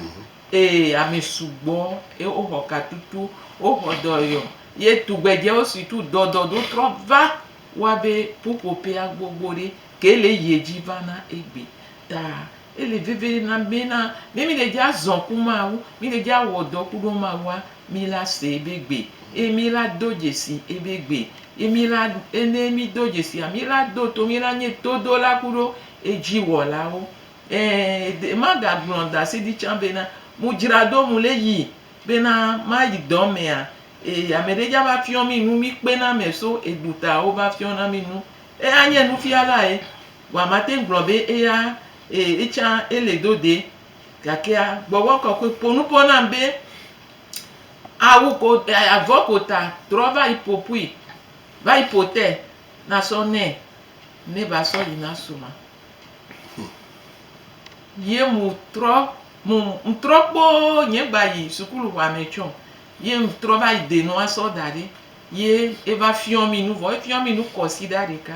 Ee, ame sugbɔ e o xɔ ka tutu o xɔ dɔ yɔ ye tugbedjɛ o si tu dɔ dɔ do trɔ va wa be ƒuƒoƒea gbogbo ɖe ke le ye dji va na egbe ta. Ele veve na mí na ne mí ɖe dzi azɔ ku Mawu, mí ɖe dzi awɔ dɔ ku ɖo Mawua, mí la se ebe gbe eye mí la do dzesi ebe gbe. Ye mí la, ne mí do dzesia, mí la do to, mí la nye todola ku ɖo edziwɔlawo. Ẽ, ede, maga gblɔ dasi ɖi tsã be na, mu dzra ɖo mu le yi be na ma yi dɔ mea, e, ame ɖe dza va fiɔ mí nu, mí kpe na ame so eɖu ta wo va fiɔ na mí nu. Eye anye nufialae. Vɔa mate ŋu gblɔ be eya ee etsã ele do de. Gakea gbɔgbɔ kɔkɔe ƒo nu ƒo nam be awu ko avɔ ko ta trɔ va yi ƒo ƒui va yi ƒo te na sɔ nɛ ne va sɔ yi na sɔ ma. Ye mu trɔ mu ŋtrɔ kpoo nye gba yi sukulu ʋa me tsɔ ye ŋtrɔ va yi de nua sɔ da ɖi ye eva fiɔ mi nu vɔ efiɔ mi nu kɔsi ɖa ɖeka.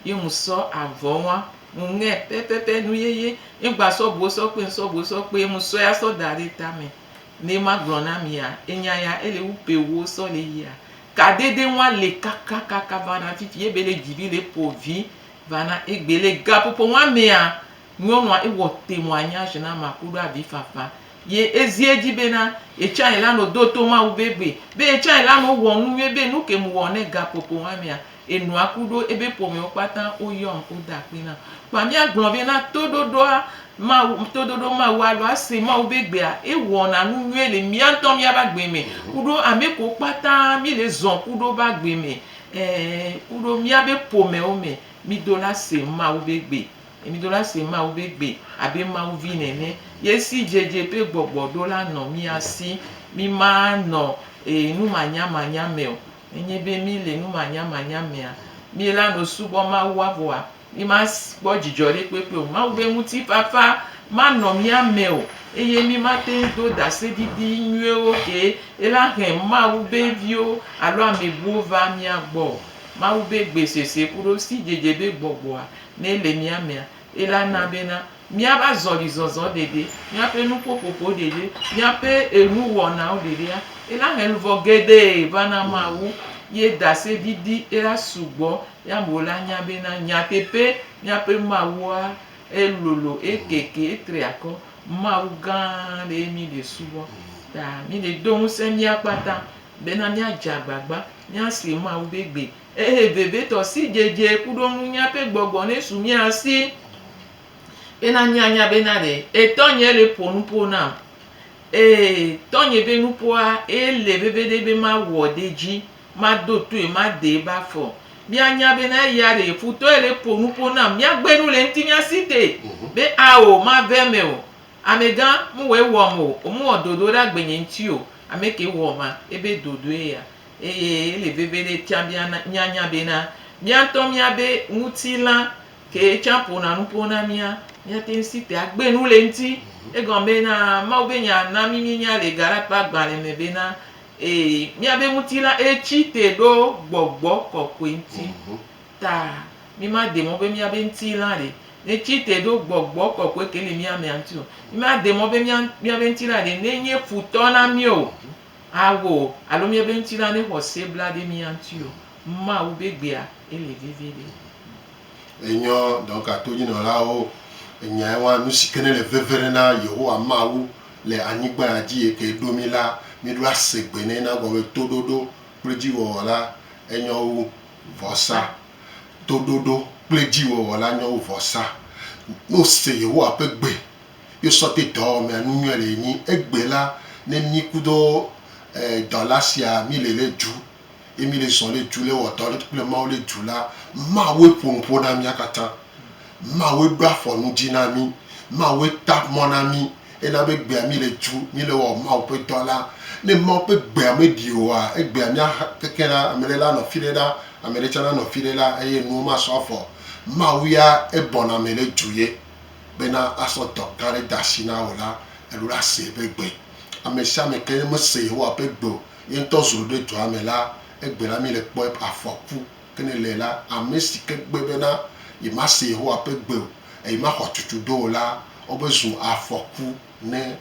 Ye ŋ sɔ avɔ ŋ wa ŋ ŋɛ pɛpɛpɛ nu yeye, ye ŋ gba sɔ buwo sɔ kpe ŋ sɔ buwo sɔ kpe, ye ŋ sɔɛ a sɔ da ɖe ta mɛ. Nɛ ma gblɔ na mi a, enya ya e le wu pe wuwo sɔ le yi a. Kadede ŋ wa le kakakaka va na fifi ye be le dzi vi le po vi va na egbe. Le gaƒoƒo ŋ wa mɛ a, nyɔnu a e wɔ te ŋ wa nya ʒi na ma koɖo avi fafa. Ye e zi edzi be na ye can e la nɔ do to Mawu be gbe, be ye can e la nɔ wɔ nu nyuie be nu ke ŋ wɔ ne gaƒoƒo ŋ wa mɛ a, Enɔa ku ɖo ebe ƒomewo kpata wo yɔn wo da akpe nam. Kpa mía gblɔ be na toɖoɖoa Mawu, toɖoɖo Mawu alo ase Mawu be gbea, ewɔna nu nyuie le mía ŋutɔ mía be agbe me kuɖo ame kewo kpata mi le zɔn kuɖo be agbe me, ɛ, kuɖo mía be ƒomewo me. Mi do la se Mawu be gbe. Mi do la se Mawu be gbe abe Mawu vi nene. Ye si dzedze ƒe gbɔgbɔ ɖo la nɔ mía si. Mi ma nɔ, e, numanyamanya me o. Nenye be míele numanyamanya mea, míelanɔ subɔm Mawua? Vɔa, mímakpɔ dzidzɔ ɖekpekpe o. Mawu ƒe ŋutifafa manɔ mía me o eye mímate ŋu do ɖaseɖiɖi nyuiwo ke helahe Mawu ƒe viwo alo ame bubuwo vaa mía gbɔ o. Mawu ƒe gbe sese kuɖo sidzedze ƒe gbɔgbɔa, ne ele mía mea, elana bena míaƒe azɔlizɔzɔ ɖeɖe, míaƒe nuƒoƒoƒo ɖeɖe, míaƒe enuwɔnawo ɖeɖea, ela he luvɔ geɖe va na Mawu ye ɖaseɖiɖi ela sugbɔ ye amewo la nya bena nyateƒe míaƒe Mawua elolo, ekeke, etri akɔ. Mawu gã aɖee mí le subɔ ta mí le do ŋusẽ mía kpata bena míadze agbagba míase Mawu be gbe Ehe vevitɔ sidzedze kuɖo nunya ƒe gbɔgbɔ nesu mía si bena míanya bena ɖe etɔnye ele ƒo nuƒo nam. Ee, tɔnye ƒe nuƒoa ele veviɖe be mawɔ ɖe edzi, mado toe, madee be afɔ. Míanya bena eya ɖee futɔ ele ƒo nuƒo nam. Míagbe nu le ŋutinye si te be ao mave eme o. Amegã, mewɔe wɔm o. Womewɔ dodo ɖe agbenye ŋuti o. Ame ke wɔ ma ebe dodoe ya. Eye ele veviɖe tsã be míanya bena mía ŋutɔ míabe ŋutilã kee tsã ƒona nuƒo na mía. Míate ŋu si te agbe nu le eŋuti. Egɔme bena Mawu be Nya na mí míenya le Galate ƒe agbalẽ me bena, Ee, míabe ŋutilã etsi te ɖo gbɔgbɔ kɔkɔe ŋuti. Ta mímade mɔ be míabe ŋutilã ɖe netsi te ɖo gbɔgbɔ kɔkɔe ke le mía mea ŋuti o. Mímade mɔ be míabe ŋutilã ɖe nenye futɔ na mí o. Awo, alo miebe ŋutilã ne xɔ se bla ɖe mia ŋuti o, Mawu be gbea ele veviɖe. Enyɔ dɔka to nyinɔlawo enya ewa nusike ne le veve ɖe na Yehowa Mawu le anyigba ya dzi yike eɖo mi la, mi ɖo ase gbe nɛ na gɔme toɖoɖo kple dziwɔwɔ la enyɔ wu vɔsa. Toɖoɖo kple dziwɔwɔ la nyɔ wu vɔsa. Ne ose Yehowa ƒe gbe Yo sɔ té dɔ ɔ mɛa nunyɔɛ le yi ni egbé la né mi kudo e dɔ la sia mi le le ju ye mi le zɔ le ju le wɔ dɔ kple mawu le ju la mawue ƒo nuƒo na mia kata mawue ɖo afɔ nu dji na mi mawue ta mɔ na mi ena be gbea mi le ju mi le wɔ mawu ƒe dɔ la ne mawu ƒe gbea me ɖi oa egbea mia ha keke la amele la nɔ fiɖe ɖa amele tsa na nɔ fiɖe la eye nuwo ma sɔ afɔ mawu ya ebɔna me le ju ye. bena asɔ dɔ gã aɖe de asi na wò la, èɖo ɖa see be gbe. Ame sia ame ke ne mese Yehowa ƒe gbe o, ye ŋutɔ zrɔ̃ ɖe dɔa me la, egbe la míele kpɔm eƒe afɔku. Ke ne le la, ame si ke gbe bena yemase Yehowa ƒe gbe o eye maxɔ tutudo o la, wobe zu afɔku ne.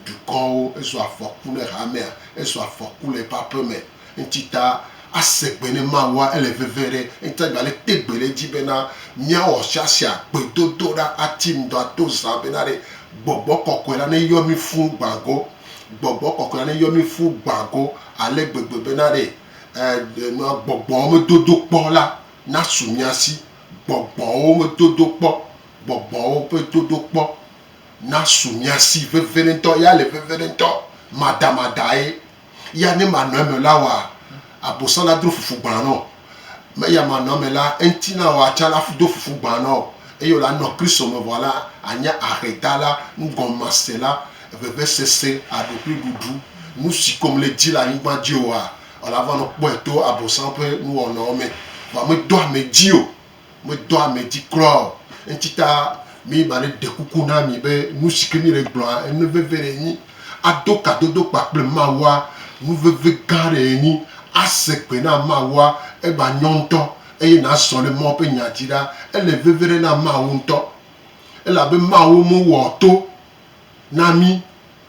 dukɔwo, ezu afɔku ne hamea, ezu afɔku le eƒe aƒe me. Eŋuti ta ase gbe ne Mawua, ele veve ɖe eŋuti ta gba le te gbe ɖe edzi bena míawɔ siasia, gbedodoɖa, ati ŋdɔ, ato zã bena ɖe Gbɔgbɔ Kɔkɔe la neyɔ mí fũ gbã go. Gbɔgbɔ Kɔkɔe la neyɔ mí fũ gbã go ale gbegbe bena ɖe e nua gbɔgbɔwo me dodo kpɔ la nasu mía si. Gbɔgbɔwo me dodo kpɔ, gbɔgbɔwo ƒe dodo kpɔ. nasu mia si veviɖetɔ. Ya le veviɖetɔ, madamadae. Ya ne manɔ eme la wɔa, abosã la dro fufu gbã nɔ. Me ya manɔ eme la, eŋti na wòa tsã la do fufu gbã nɔ. Eye wòle anɔ Kristo me vɔ la, anye ahedala, nugɔnmasela, vevesese, aɖokuiɖuɖu. Nu si ko mele di le anyigba dzi oa, wòle ava nɔ kpɔe to abosã ƒe nuwɔnawo me. Vɔa medoa ame dzi o. Medɔ ame dzi kura o. Eŋuti ta mi ma ɖe ɖe kuku na mi be nu si ke mi le gblɔa enu veve ɖe nyi. Ado kadodo kpakple Mawua nu veve gã ɖe nyi. Ase gbe na Mawua egba nyɔ ŋutɔ eye nazɔ ɖe Mawu ƒe nya dzi ɖa. Ele veve ɖe na Mawu ŋutɔ elabe Mawu me wɔ to na mi,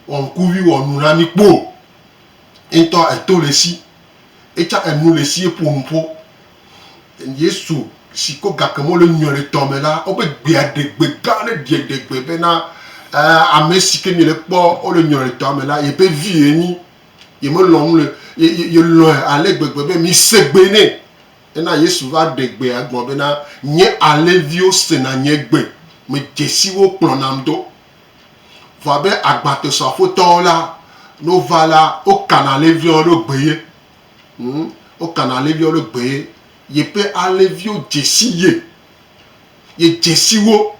wɔ ŋkuvi wɔ nu na mi kpo o. Ye ŋutɔ eto le esi. Etsa enu le esi eƒo nu ƒo. Yesu si ko gake mele nyuiɖetɔ me la, wobe gbea ɖe gbe gã aɖe ɖe ɖe gbe bena, Ame si ke miele kpɔ wole nyuiɖetɔa me la, yeƒe vi ye nyi. Ye melɔ̃ nu le, ye, ye, ye lɔ̃e ale gbegbe be mise gbe nɛ. Ena Yesu va ɖe gbea gɔme bena, Nye alẽviwo sena nye gbe. Medze si wo kplɔnam do. Vɔ abe agbatesɔafotɔwo la, ne wova la, wokana alẽviawo ɖo gbe ye. Hm, wokana alẽviawo ɖo gbe ye. Yeƒe alẽviwo dze si ye. Yedze si wo.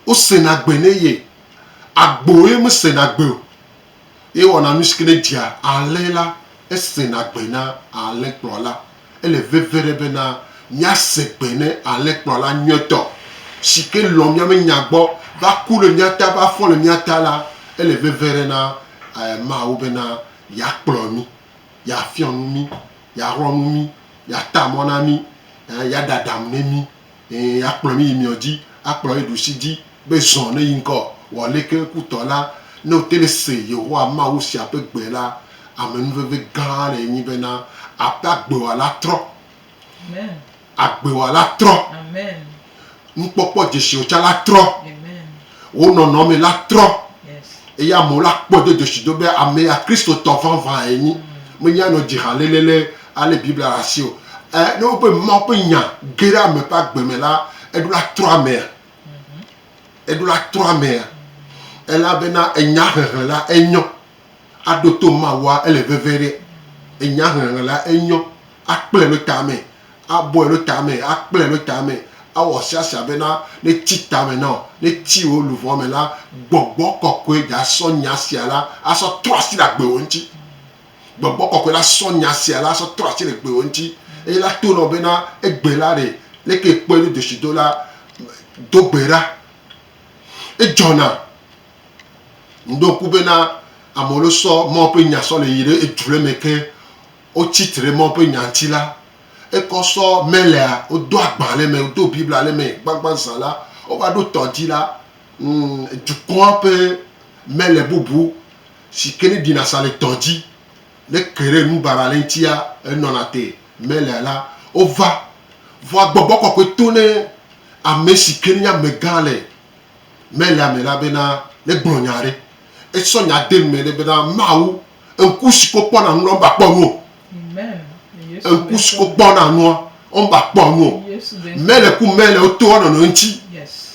Wosena gbe ne ye. Agbo ye mesena gbe o. Ye wɔna nu si ke nedzea alẽ la, esena gbe na alẽkplɔla. Ele veve ɖe bena míase gbe ne alẽkplɔla nyuitɔ si ke lɔ̃ mía be nya gbɔ va ku ɖe mía ta, va fɔ le mía ta la, ele veve ɖe na Mawu bena yeakplɔ mí, yeafiɔ nu mí, yeaxlɔ̃ nu mí, yeata mɔ na mí, yeaɖe aɖaŋu na mí. Eye akplɔ mí yi miɔ dji, akplɔ ye ɖusi dji, be zɔn ne yi ŋkɔ. Wɔ aleke kutɔ la, ne wote ne se Yehowa Mawu sia ƒe gbe la, amenuveve gã le enyi bena abe agbewala trɔ. Agbewala trɔ. Nukpɔkpɔ dzesiwo tsa la trɔ. Wo nɔnɔme la trɔ eye amewo la kpɔe do dzesi do be ame ya Kristotɔ vavãe nyi. Menye anɔ dzi ha lélélé alé Biblia ɖe asi o. Ɛ, ne wobe Mawu ƒe nya ge ɖe ame ƒe agbe me la, eɖo la trɔ amea. Eɖo la trɔ amea. Elabena enya hehe la enyɔ. Aɖo to Mawua ele veve ɖe. Enya hehe la enyɔ. Akplɔe ɖo tame. abɔe ɖo tame, akplɛ ɖo tame, awɔ siasia bena ne tsi tame nɔ, ne tsi wò luʋɔ me la, gbɔgbɔ kɔkɔe dza sɔ nya sia la asɔ trɔ asi le agbe wò ŋtsi. Gbɔgbɔ kɔkɔe la sɔ nya sia la sɔ trɔ asi le gbe wò ŋtsi eye la to nɔ bena egbe la ɖe leke ekpɔe do doshi do la do gbe ɖa. Edzɔna. Ŋɖo ŋku bena amewo lo sɔ Mawu ƒe nya sɔ le yi ɖe edzulemɛ ke. Wotsi tre mɔ ƒe nya ŋuti la, ekɔ sɔ mɛlea, wodo agba le eme, wodo Biblia le eme. Gbãgbã zã la, wova ɖo tɔ dzi la, dukɔa ƒe mɛle bubu si ke ne ɖina sa le tɔ dzi, ne ke ɖe nu baba le eŋutia, enɔna te. Mɛlea la, wova. Vɔa gbɔgbɔ kɔkɔe to ne ame si ke ne nye amegã le mɛlea me la bena negblɔ nya aɖe. Esɔ nya de nu me ɖe bena, Mawu Ŋku si ko kpɔna nua mba kpɔ nu o. Ŋku si ko kpɔna nua womba kpɔ nu o. Mele ku mele woto wa nɔnɔ ŋuti.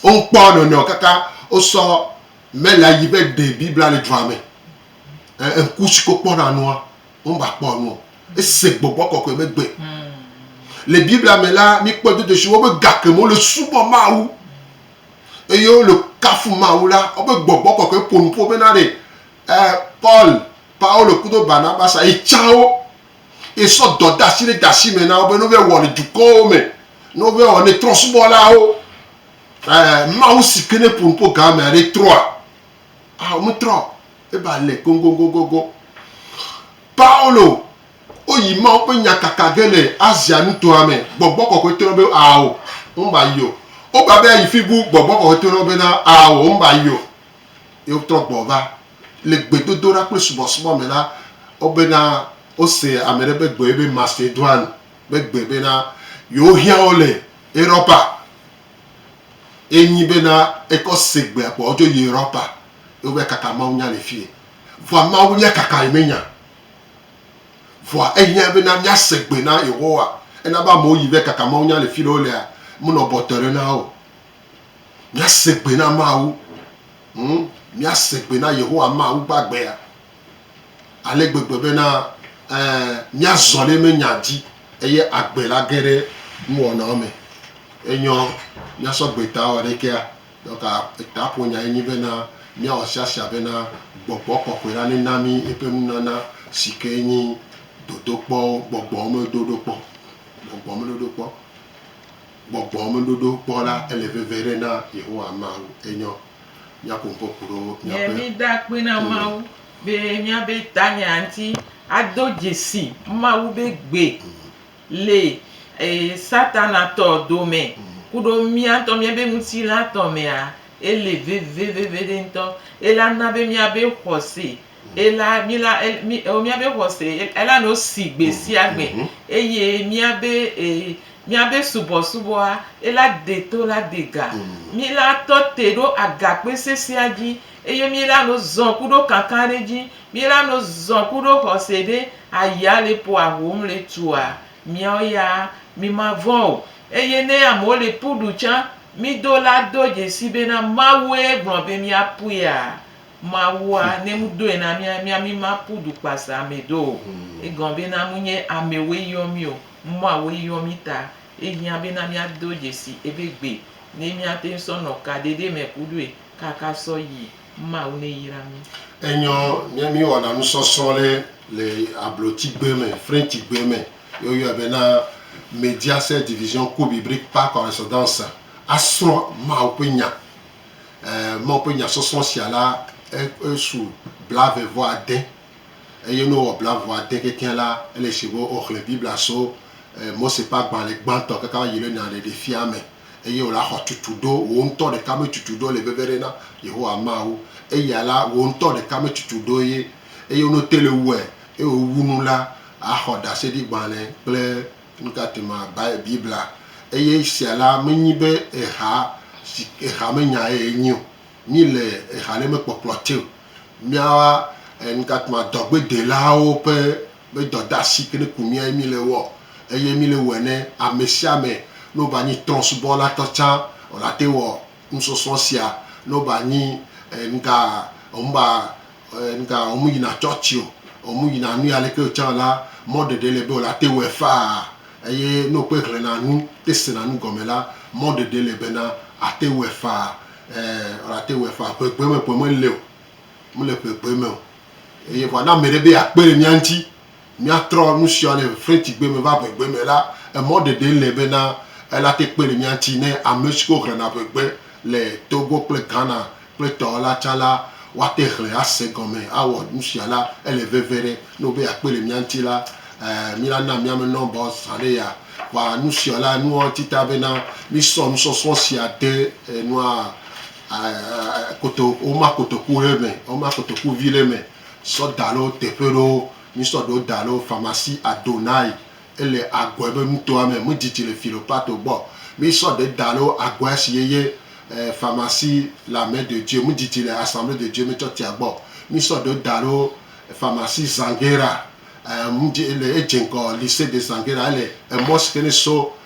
Wonkpɔ nɔnɔ kaka wosɔ mele yi be ɖe Biblia le dua me. Ŋku si ko kpɔna nua womba kpɔ nu o. Ese gbɔgbɔ kɔkɔe be gbe. Le Biblia me la, mikpɔ dodo si wobe gake me wole subɔ Mawu eye wole kafu Mawu la, wobe gbɔgbɔ kɔkɔe ƒonu ƒo bena ɖe Ɛ, Paul, Paulo kudo Barnabasa yi tsã wo yi sɔ dɔdasi ɖe dasi me na wo be ne wova wɔ le dukɔwo me, ne wova wɔ ne trɔsubɔlawo. Ɛ, Mawu si ke ne ƒo nuƒo gã me aɖe trɔa? Ao, me trɔ o. Eba le goŋgoŋgoŋgoŋ. Paulo, wo yi Mawu ƒe nya kaka ge le Asia nutoa me. Gbɔgbɔ kɔkɔe to na wo be ao, wome ba yi o. Wo ba be ayi fibu, Gbɔgbɔ kɔkɔe to na wo be na ao, wome ba yi o. Yewo trɔ gbɔ va. Le gbedodoɖa kple subɔsubɔ me la, wobena wose ame ɖe ƒe gbe woyɔe be Masedoine ƒe gbe bena, yewohiã wo le Europa. Ye nyi bena ekɔ se gbea kpɔ wodzo yi Europa ye wova kaka mawunya le fiye. Vɔa mawunya kaka yi menya o. Vɔa ehiã bena míase gbe na Yehowa. Ena be amewo yi va kaka mawunya le fiɖe wolea, menɔ bɔtɔe ɖe na wo o. Míase gbe na Mawu. Ŋu, míase gbe na Yehowa Mawu gbagbeea ale gbegbe bena, ɛ̃, míazɔ ɖe eme nya dzi eye agbe la ge ɖe nuwɔnawo me. Enyɔ míasɔ gbe ta wɔ ɖe ekea? Donc, etaƒonyae nye bena, míawɔ siasia bena Gbɔgbɔ Kɔkɔe la nena mí eƒe nunana si kee nye dodokpɔwo, gbɔgbɔmedoɖokpɔ, gbɔgbɔmedoɖokpɔ. Gbɔgbɔ me ɖoɖo kpɔ la, ele veve ɖe na Yehowa Mawu. Enyɔ míaƒo ŋkɔ ku ɖo míaƒe. Yɛ mí da akpe na Mawu be míabe tanya ŋuti ado dzesi Mawu be gbe le Satana tɔ dome kuɖo mía ŋutɔ míabe ŋutilã tɔ mea, ele veve veveɖe ŋutɔ. Ela na be míabe xɔse. Ela, mí la, mí, o, míabe xɔse, ela nɔ si gbe sia gbe, eye míabe, e, míabe subɔsubɔa, ela de to la de ga. Mí la tɔ te ɖo agakpe sesea dzi, eye mí la nɔ zɔn kuɖo kankan ɖe dzi. Mí la nɔ zɔn kuɖo xɔse ɖe ayia le ƒoa hom le tua. Míawo ya, mí ma vɔ̃ o. Eye ne amewo le ƒu ɖu tsã, mí do la do dzesi bena Mawue gblɔ be mía ƒuia, Mawua ne mu doe na mia mia mi ma pu du kpa sa ame do o. Egɔn be na mu nye ame woe yɔ mi o, mɔa woe yɔ mi ta. Ehiã be na mia do dzesi ebe gbe ne mia teŋ sɔ nɔ ka ɖeɖe me ku ɖoe kaka sɔ yi. Mawu ne yra mi. Enyɔ ne mi wɔna nusɔsrɔ ɖe le abloti gbe me, French gbe me ye wo yɔɛ be na Mediaset Division Kobe Brik Par Correspondance a srɔ Mawu ƒe nya. Mawu ƒe nyasɔsrɔ̃ sia la, esu blaeve vɔ ade, eye ne wowɔ blaeve vɔ ade kekeɛ la, ele si be woxlẽ Biblia so Mose ƒe agbalẽ gbãtɔ kaka va yi ɖe Nya Ɖeɖe Fia me, eye wòle axɔ tutu ɖo, wò ŋutɔ ɖeka me tutu ɖo le veve ɖe na Yehowa Mawu. Eya la, wò ŋutɔ ɖeka me tutu ɖo ye, eye ne wote le wue, eye wòwu nu la, axɔ ɖaseɖigbalẽ kple Nutatema Biblia eye sia la menyi be eha si eha menya ye enyi o. Mí le eha ɖe mekpɔkplɔ te o. Míawa nutatema dɔgbedelawo ƒe be dɔdasi ke ne ku mía ye mí le wɔ eye mí le wɔe ne ame sia ame ne wova nyi trɔ̃subɔla tɔ tsã wòate wɔ Nusɔsrɔ̃ sia ne wova nyi e nuka womuva e nuka womuyina tsɔtsi o, womuyina nui aleke o tsã la, mɔɖeɖe le be wòle ate wɔe faa. Eye ne wokpe hlẽna nu, te sena nu gɔme la, mɔɖeɖe le bena ate wɔe faa. Ɛ, wòle ate wɔe faa. Ŋegbee me ƒe mele o. Mele ŋegbee me o. Eye vɔa ne ame ɖe be yeakpe ɖe mía ŋuti míatrɔ nu sia le Frenchigbe me va ʋegbe me la, emɔ ɖeɖe le bena elate kpe le mía ŋuti ne ame siwo hlẽna ʋegbe le Togo kple Ghana kple etɔwo la tsã la, woate hlẽ ase gɔme awɔ nu sia la. Ele veve ɖe ne wobe yeakpe le mía ŋuti la, ɛɛ, mina na míame nɔmbawo zã ne yaa wɔ nu sia la. Nua ŋuti ta bena mísɔ nusɔsrɔ̃ sia de enua, ɛɛ, koto, woma kotoku ɖe me, woma kotoku vi ɖe me. sɔ da ɖe wo teƒe ɖewo. Mi sɔ ɖewo da ɖe Pharmacie Adonai ele Agɔɛ be nutoa me. Mi dzidzi le Philopato gbɔ. Mi sɔ ɖe da ɖe Agɔɛ si yeye Pharmacie La Main de Dieu. Mi dzidzi le Assemblée de Dieu me tsɔtia gbɔ. Mi sɔ ɖewo da ɖe Pharmacie Zanguera. Mi dzi ele edze ŋgɔ Lycee de Zanguera ele emɔ si ke ne so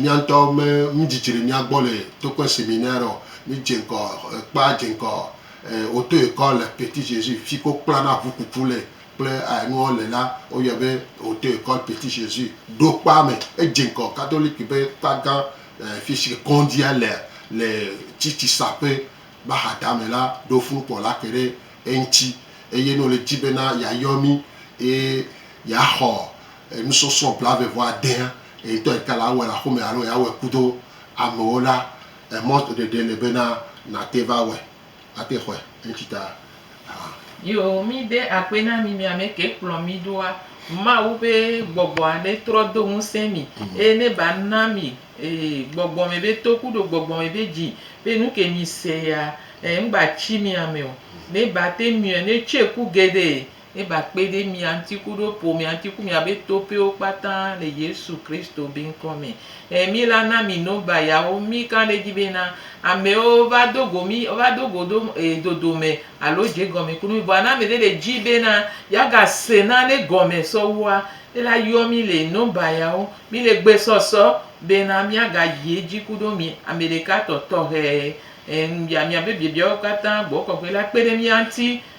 Míaŋtɔ me mí dzidzi ɖe mía gbɔ le tokpe seminaire o. Mí dze ŋkɔ kpa dze ŋkɔ auto école le Petit Jesus fi ke wo kpla na ʋu kuku le kple enuawo le la wo yɔɛ be auto école Petit Jesus. Ɖo kpa me edze ŋkɔ catholique be kpa gã fi si ke kɔndzia lea le tsitsi saƒe be axa da me la ɖo funukpɔ la ke ɖe eŋtsi eye ne wo le dzi bena ya yɔ mí eye ya xɔ enusɔsrɔ̃ blaeve-vɔ-adea, eŋtɔ ete le awɔe le axome alo yeawɔe kudo amewo la, emɔ ɖeɖe le bena nàte va wɔe, ate xɔe eŋtsi ta hã. Yo, mí de akpe na mí mí amɛ ke kplɔ mí ɖoa, Mawu be gbɔgbɔ aɖe trɔ do ŋusẽ mí, eye ne ba na mí gbɔgbɔ mɛ be to kudo gbɔgbɔ mɛ be dzi be nu ke mí se ya, ŋgba tsi mí amɛ o. Ne ba te miɔe, ne tsɔe ku geɖe. Ne ba kpe ɖe mia ŋuti ku ɖo ƒo mia ŋuti ku mia be to ƒewo kpata le Yesu Kristo be ŋkɔ me. E mi la na mi no ba ya wo. Mi ka ɖe dzi be na amewo va do go mi, va do go ɖo e dodo me alo dze gɔme ku mi. Vɔa na ame ɖe le dzi be na ya ga se na ne gɔme sɔ wua, e la yɔ mi le no ba ya wo. Mi le gbe sɔsɔ be na mia ga yi edzi ku ɖo mi ame ɖeka tɔ tɔxɛ. E ŋu bia mia be biabia wo kpata gbɔ kɔkɔe la kpe ɖe mia ŋuti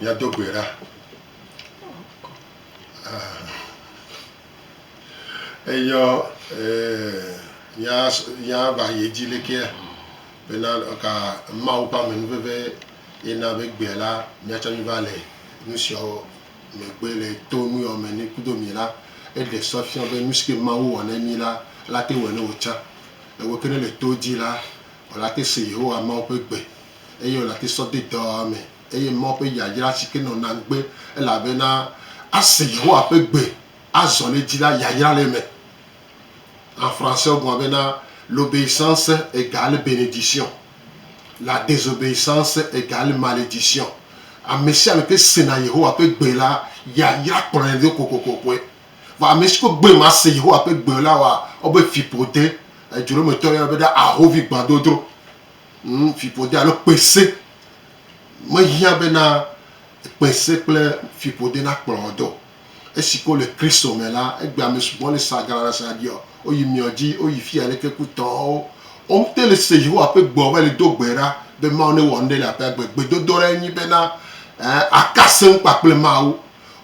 Míado gbe ɖa. Eyɔ míava yi edzi lekea bena ka Mawu ƒe amenuveve ye na be gbea la míatsɔ va le nu siawo. Megbe le to nuyɔame ni kudo mi la, eɖe sɔ fiɔ be nu sike Mawu wɔ ne mi la, la te wɔe ne wo tsã. Ewe ke ne le to dzi la, wola te se Yehowa Mawu ƒe gbe eye wola te sɔ de dɔa me eye Mawu ƒe yayra sike nɔ na ŋugbe elabena ase Yehowa ƒe gbe azɔ le edzi la yayra le eme. En français wogblɔ bena, L'obéissance égale bénédiction, la désobéissance égale malédiction. Amesiame ke sena Yehowa ƒe gbe la, yayra kplɔe ɖo kokokokoe. Vɔ amesi ko gbe mase Yehowa ƒe gbe o la wɔa wobe fiƒode, edzrometɔwo yɔnɛ bena ahovi gbãdodro. Ŋ, fiƒode alo kpese mehiã bena kpese kple fiƒode nakplɔ wò do o. Esi ke wole Kristo me la, egbe ame sugbɔ le sa galaɖasa ɖiɔ, woyi miɔ dzi, woyi fiyi ale ke kutɔwo. Womte le se Yehowa ƒe gbeɔ va yi le do gbe ɖa be Mawu newɔ nuɖe le aƒea gbe. Gbedodoɖa ye nyi bena, ẽ, aka se ŋu kpakple Mawu.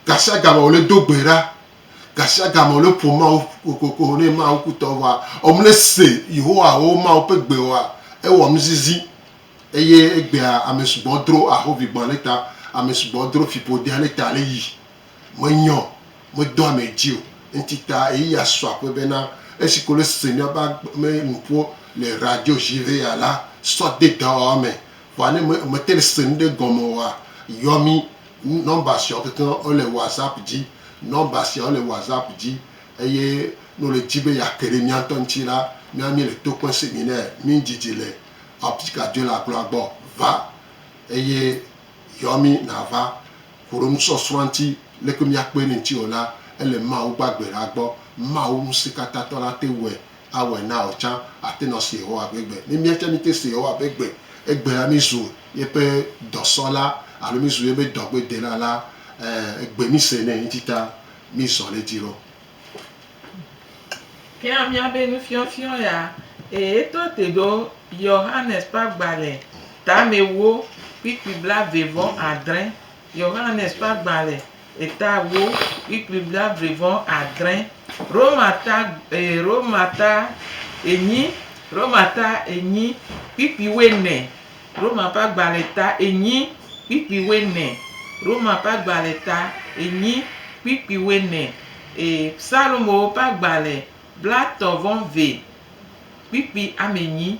Gashiagame wòle do gbe ɖa. Gashiagame wòle ƒom Mawu kokoko ne Mawu kutɔwo vɔa, womle se Yehowa alo Mawu ƒe gbe oa, ewɔ nuzizi. Eye egbea ame sugbɔ dro ahovigbɔ̃ ale ta, ame sugbɔ dro fiƒode ale ta ale yi. Menyɔ, medo ame dzi o. Ŋti ta eyi ya sɔ aƒe bena esi ko le se mía ba me nuƒo le radio dzi ve ya la sɔ de dɔwɔwɔ me. Vɔa ne me, mete le se nuɖe gɔme oa, yɔ mí. Nɔmba siawo kekeŋ wole WhatsApp dzi. Nɔmba siawo le WhatsApp dzi. Eye ne wòle dzi be yeake ɖe mía ŋutɔ ŋti la, mía míele to kpem se mi nɛ. Mí didi le. Apika dzoe le akplɔa gbɔ. Va, eye yɔ mí nàva ƒo ɖo nusɔsrɔ̃a ŋuti, leke míakpɔe ne ŋuti o la, ele Mawu gbagbe la gbɔ. Mawu Ŋusẽkatãtɔ la ate ŋue awɔe na wò tsã, àte ŋu ase Yehowa ƒe gbe. Ne míatsã míete se Yehowa ƒe gbe, egbe la, mízu yeƒe dɔsɔla alo mízu yeƒe dɔgbedela la, ẽ, egbe míse nɛ ŋutita mízɔ ɖe edzi ɖo. Kea mía be nufiɔfiɔ ya ee to te ɖo Yohanes ƒe agbalẽ tamewo kpukpui blave vɔ adre. Yohanes ƒe agbalẽ etawo kpukpui blave vɔ adre. Roma ta ee Roma ta enyi Roma ta enyi kpukpui wɔ ene. Roma ƒe agbalẽ ta enyi kpikpi wuene Roma ƒe agbalẽ ta enyi kpikpi wuene Ee, Psalmowo ƒe agbalẽ blatɔ̃ vɔ ve kpikpi ame enyi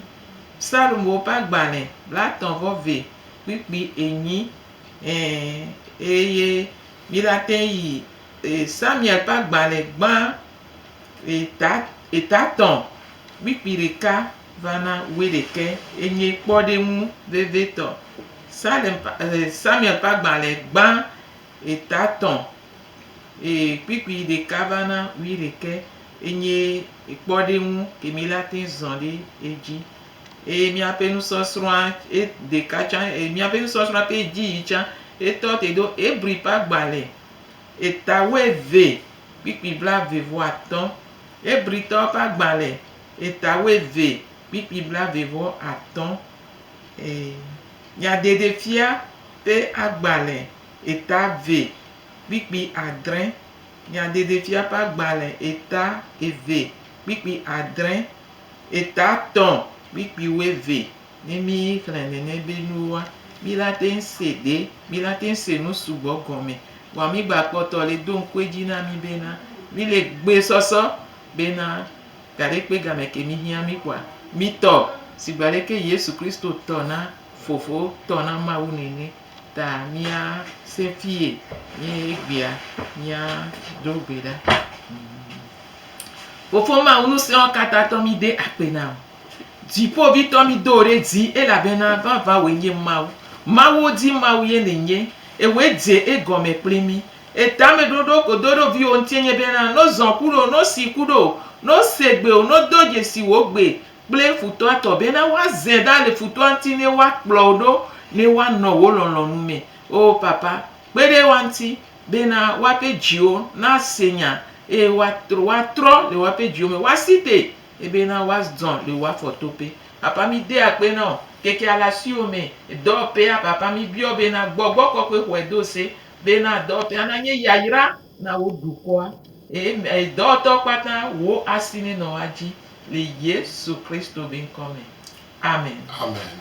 Psalmowo ƒe agbalẽ blatɔ̃ vɔ ve kpikpi enyi Ee, eye miɖate ŋu ayi Samuel ƒe agbalẽ gbã Eta, etatɔ̃ kpikpi ɖeka va na wuiɖekɛ ye nye kpɔɖeŋu vevitɔ. Salem, e, Samuel ƒe agbalẽ gbã etatɔ̃, e, kpikpi ɖeka va na wuiɖekɛ ye nye kpɔɖeŋu ke mi la te zɔ ɖe edzi. Eye míaƒe nusɔsrɔ̃a e, ɖeka tsã, e, míaƒe nusɔsrɔ̃a ƒe dzi yi tsã etɔ te ɖo Hebri ƒe agbalẽ Eta wuieve kpikpi blaeve-vɔ-atɔ̃, Hebritɔwo ƒe agbalẽ, eta wuieve kpikpi blaeve-vɔ-atɔ̃, ii, Nyaɖeɖefia ƒe agbalẽ, eta eve kpikpi adre, Nyaɖeɖefia ƒe agbalẽ, eta eve kpikpi adre, eta tɔ̃ kpikpi wuieve, Ne mí xlẽ nɛnɛ be nuwoa, mí la teŋ se ɖe, mí la teŋ se nu sugbɔ gɔme. Vɔa mí gba kpɔtɔ le do ŋku edzi na mí be na mí le gbe sɔsɔ be na gaɖe kpe gamɛ ke mí hiã mí kpɔa, mí tɔ sigba leke Yesu Kristo tɔ na Fofo tɔ na Mawu nɛnɛ. Ta mía se fiye mí egbea mía ɖo gbe ɖa. Fofo Mawu nuseɔkatãtɔ mí de akpe na o. Dziƒovitɔ, mido wò ɖe dzi, elabena vavãwòe nye Mawu. Mawuwo dzi Mawu ye nènye, ewòe dze egɔme kpli mí. Etameɖoɖo kodo ɖo viwò ŋuti enye bena, no zɔ̃ ku ɖo, no si ku ɖo, no se gbe o, no do dzesi wò gbe kple futɔa tɔ, bena woazẽ ɖa le futɔa ŋuti ne woakplɔ wò ɖo ne woanɔ wò lɔlɔ̃nu me. O Papa, kpe ɖe woa ŋuti, bena woaƒe dziwo nase nya, eye woatrɔ le woaƒe dziwo me, woasi te Ebe na was dzɔn le wa fɔ to pe apa mi de akpe na o keke ala si o me edɔ pe apa apa mi biɔ be na gbɔ gbɔ kɔ kpe xɔe do se be na dɔ pe ana nye yayra na wo du kɔ a e edɔ tɔ kpata wo asi ne nɔ wa dzi le yesu kristo be ŋkɔ me amen. Amen.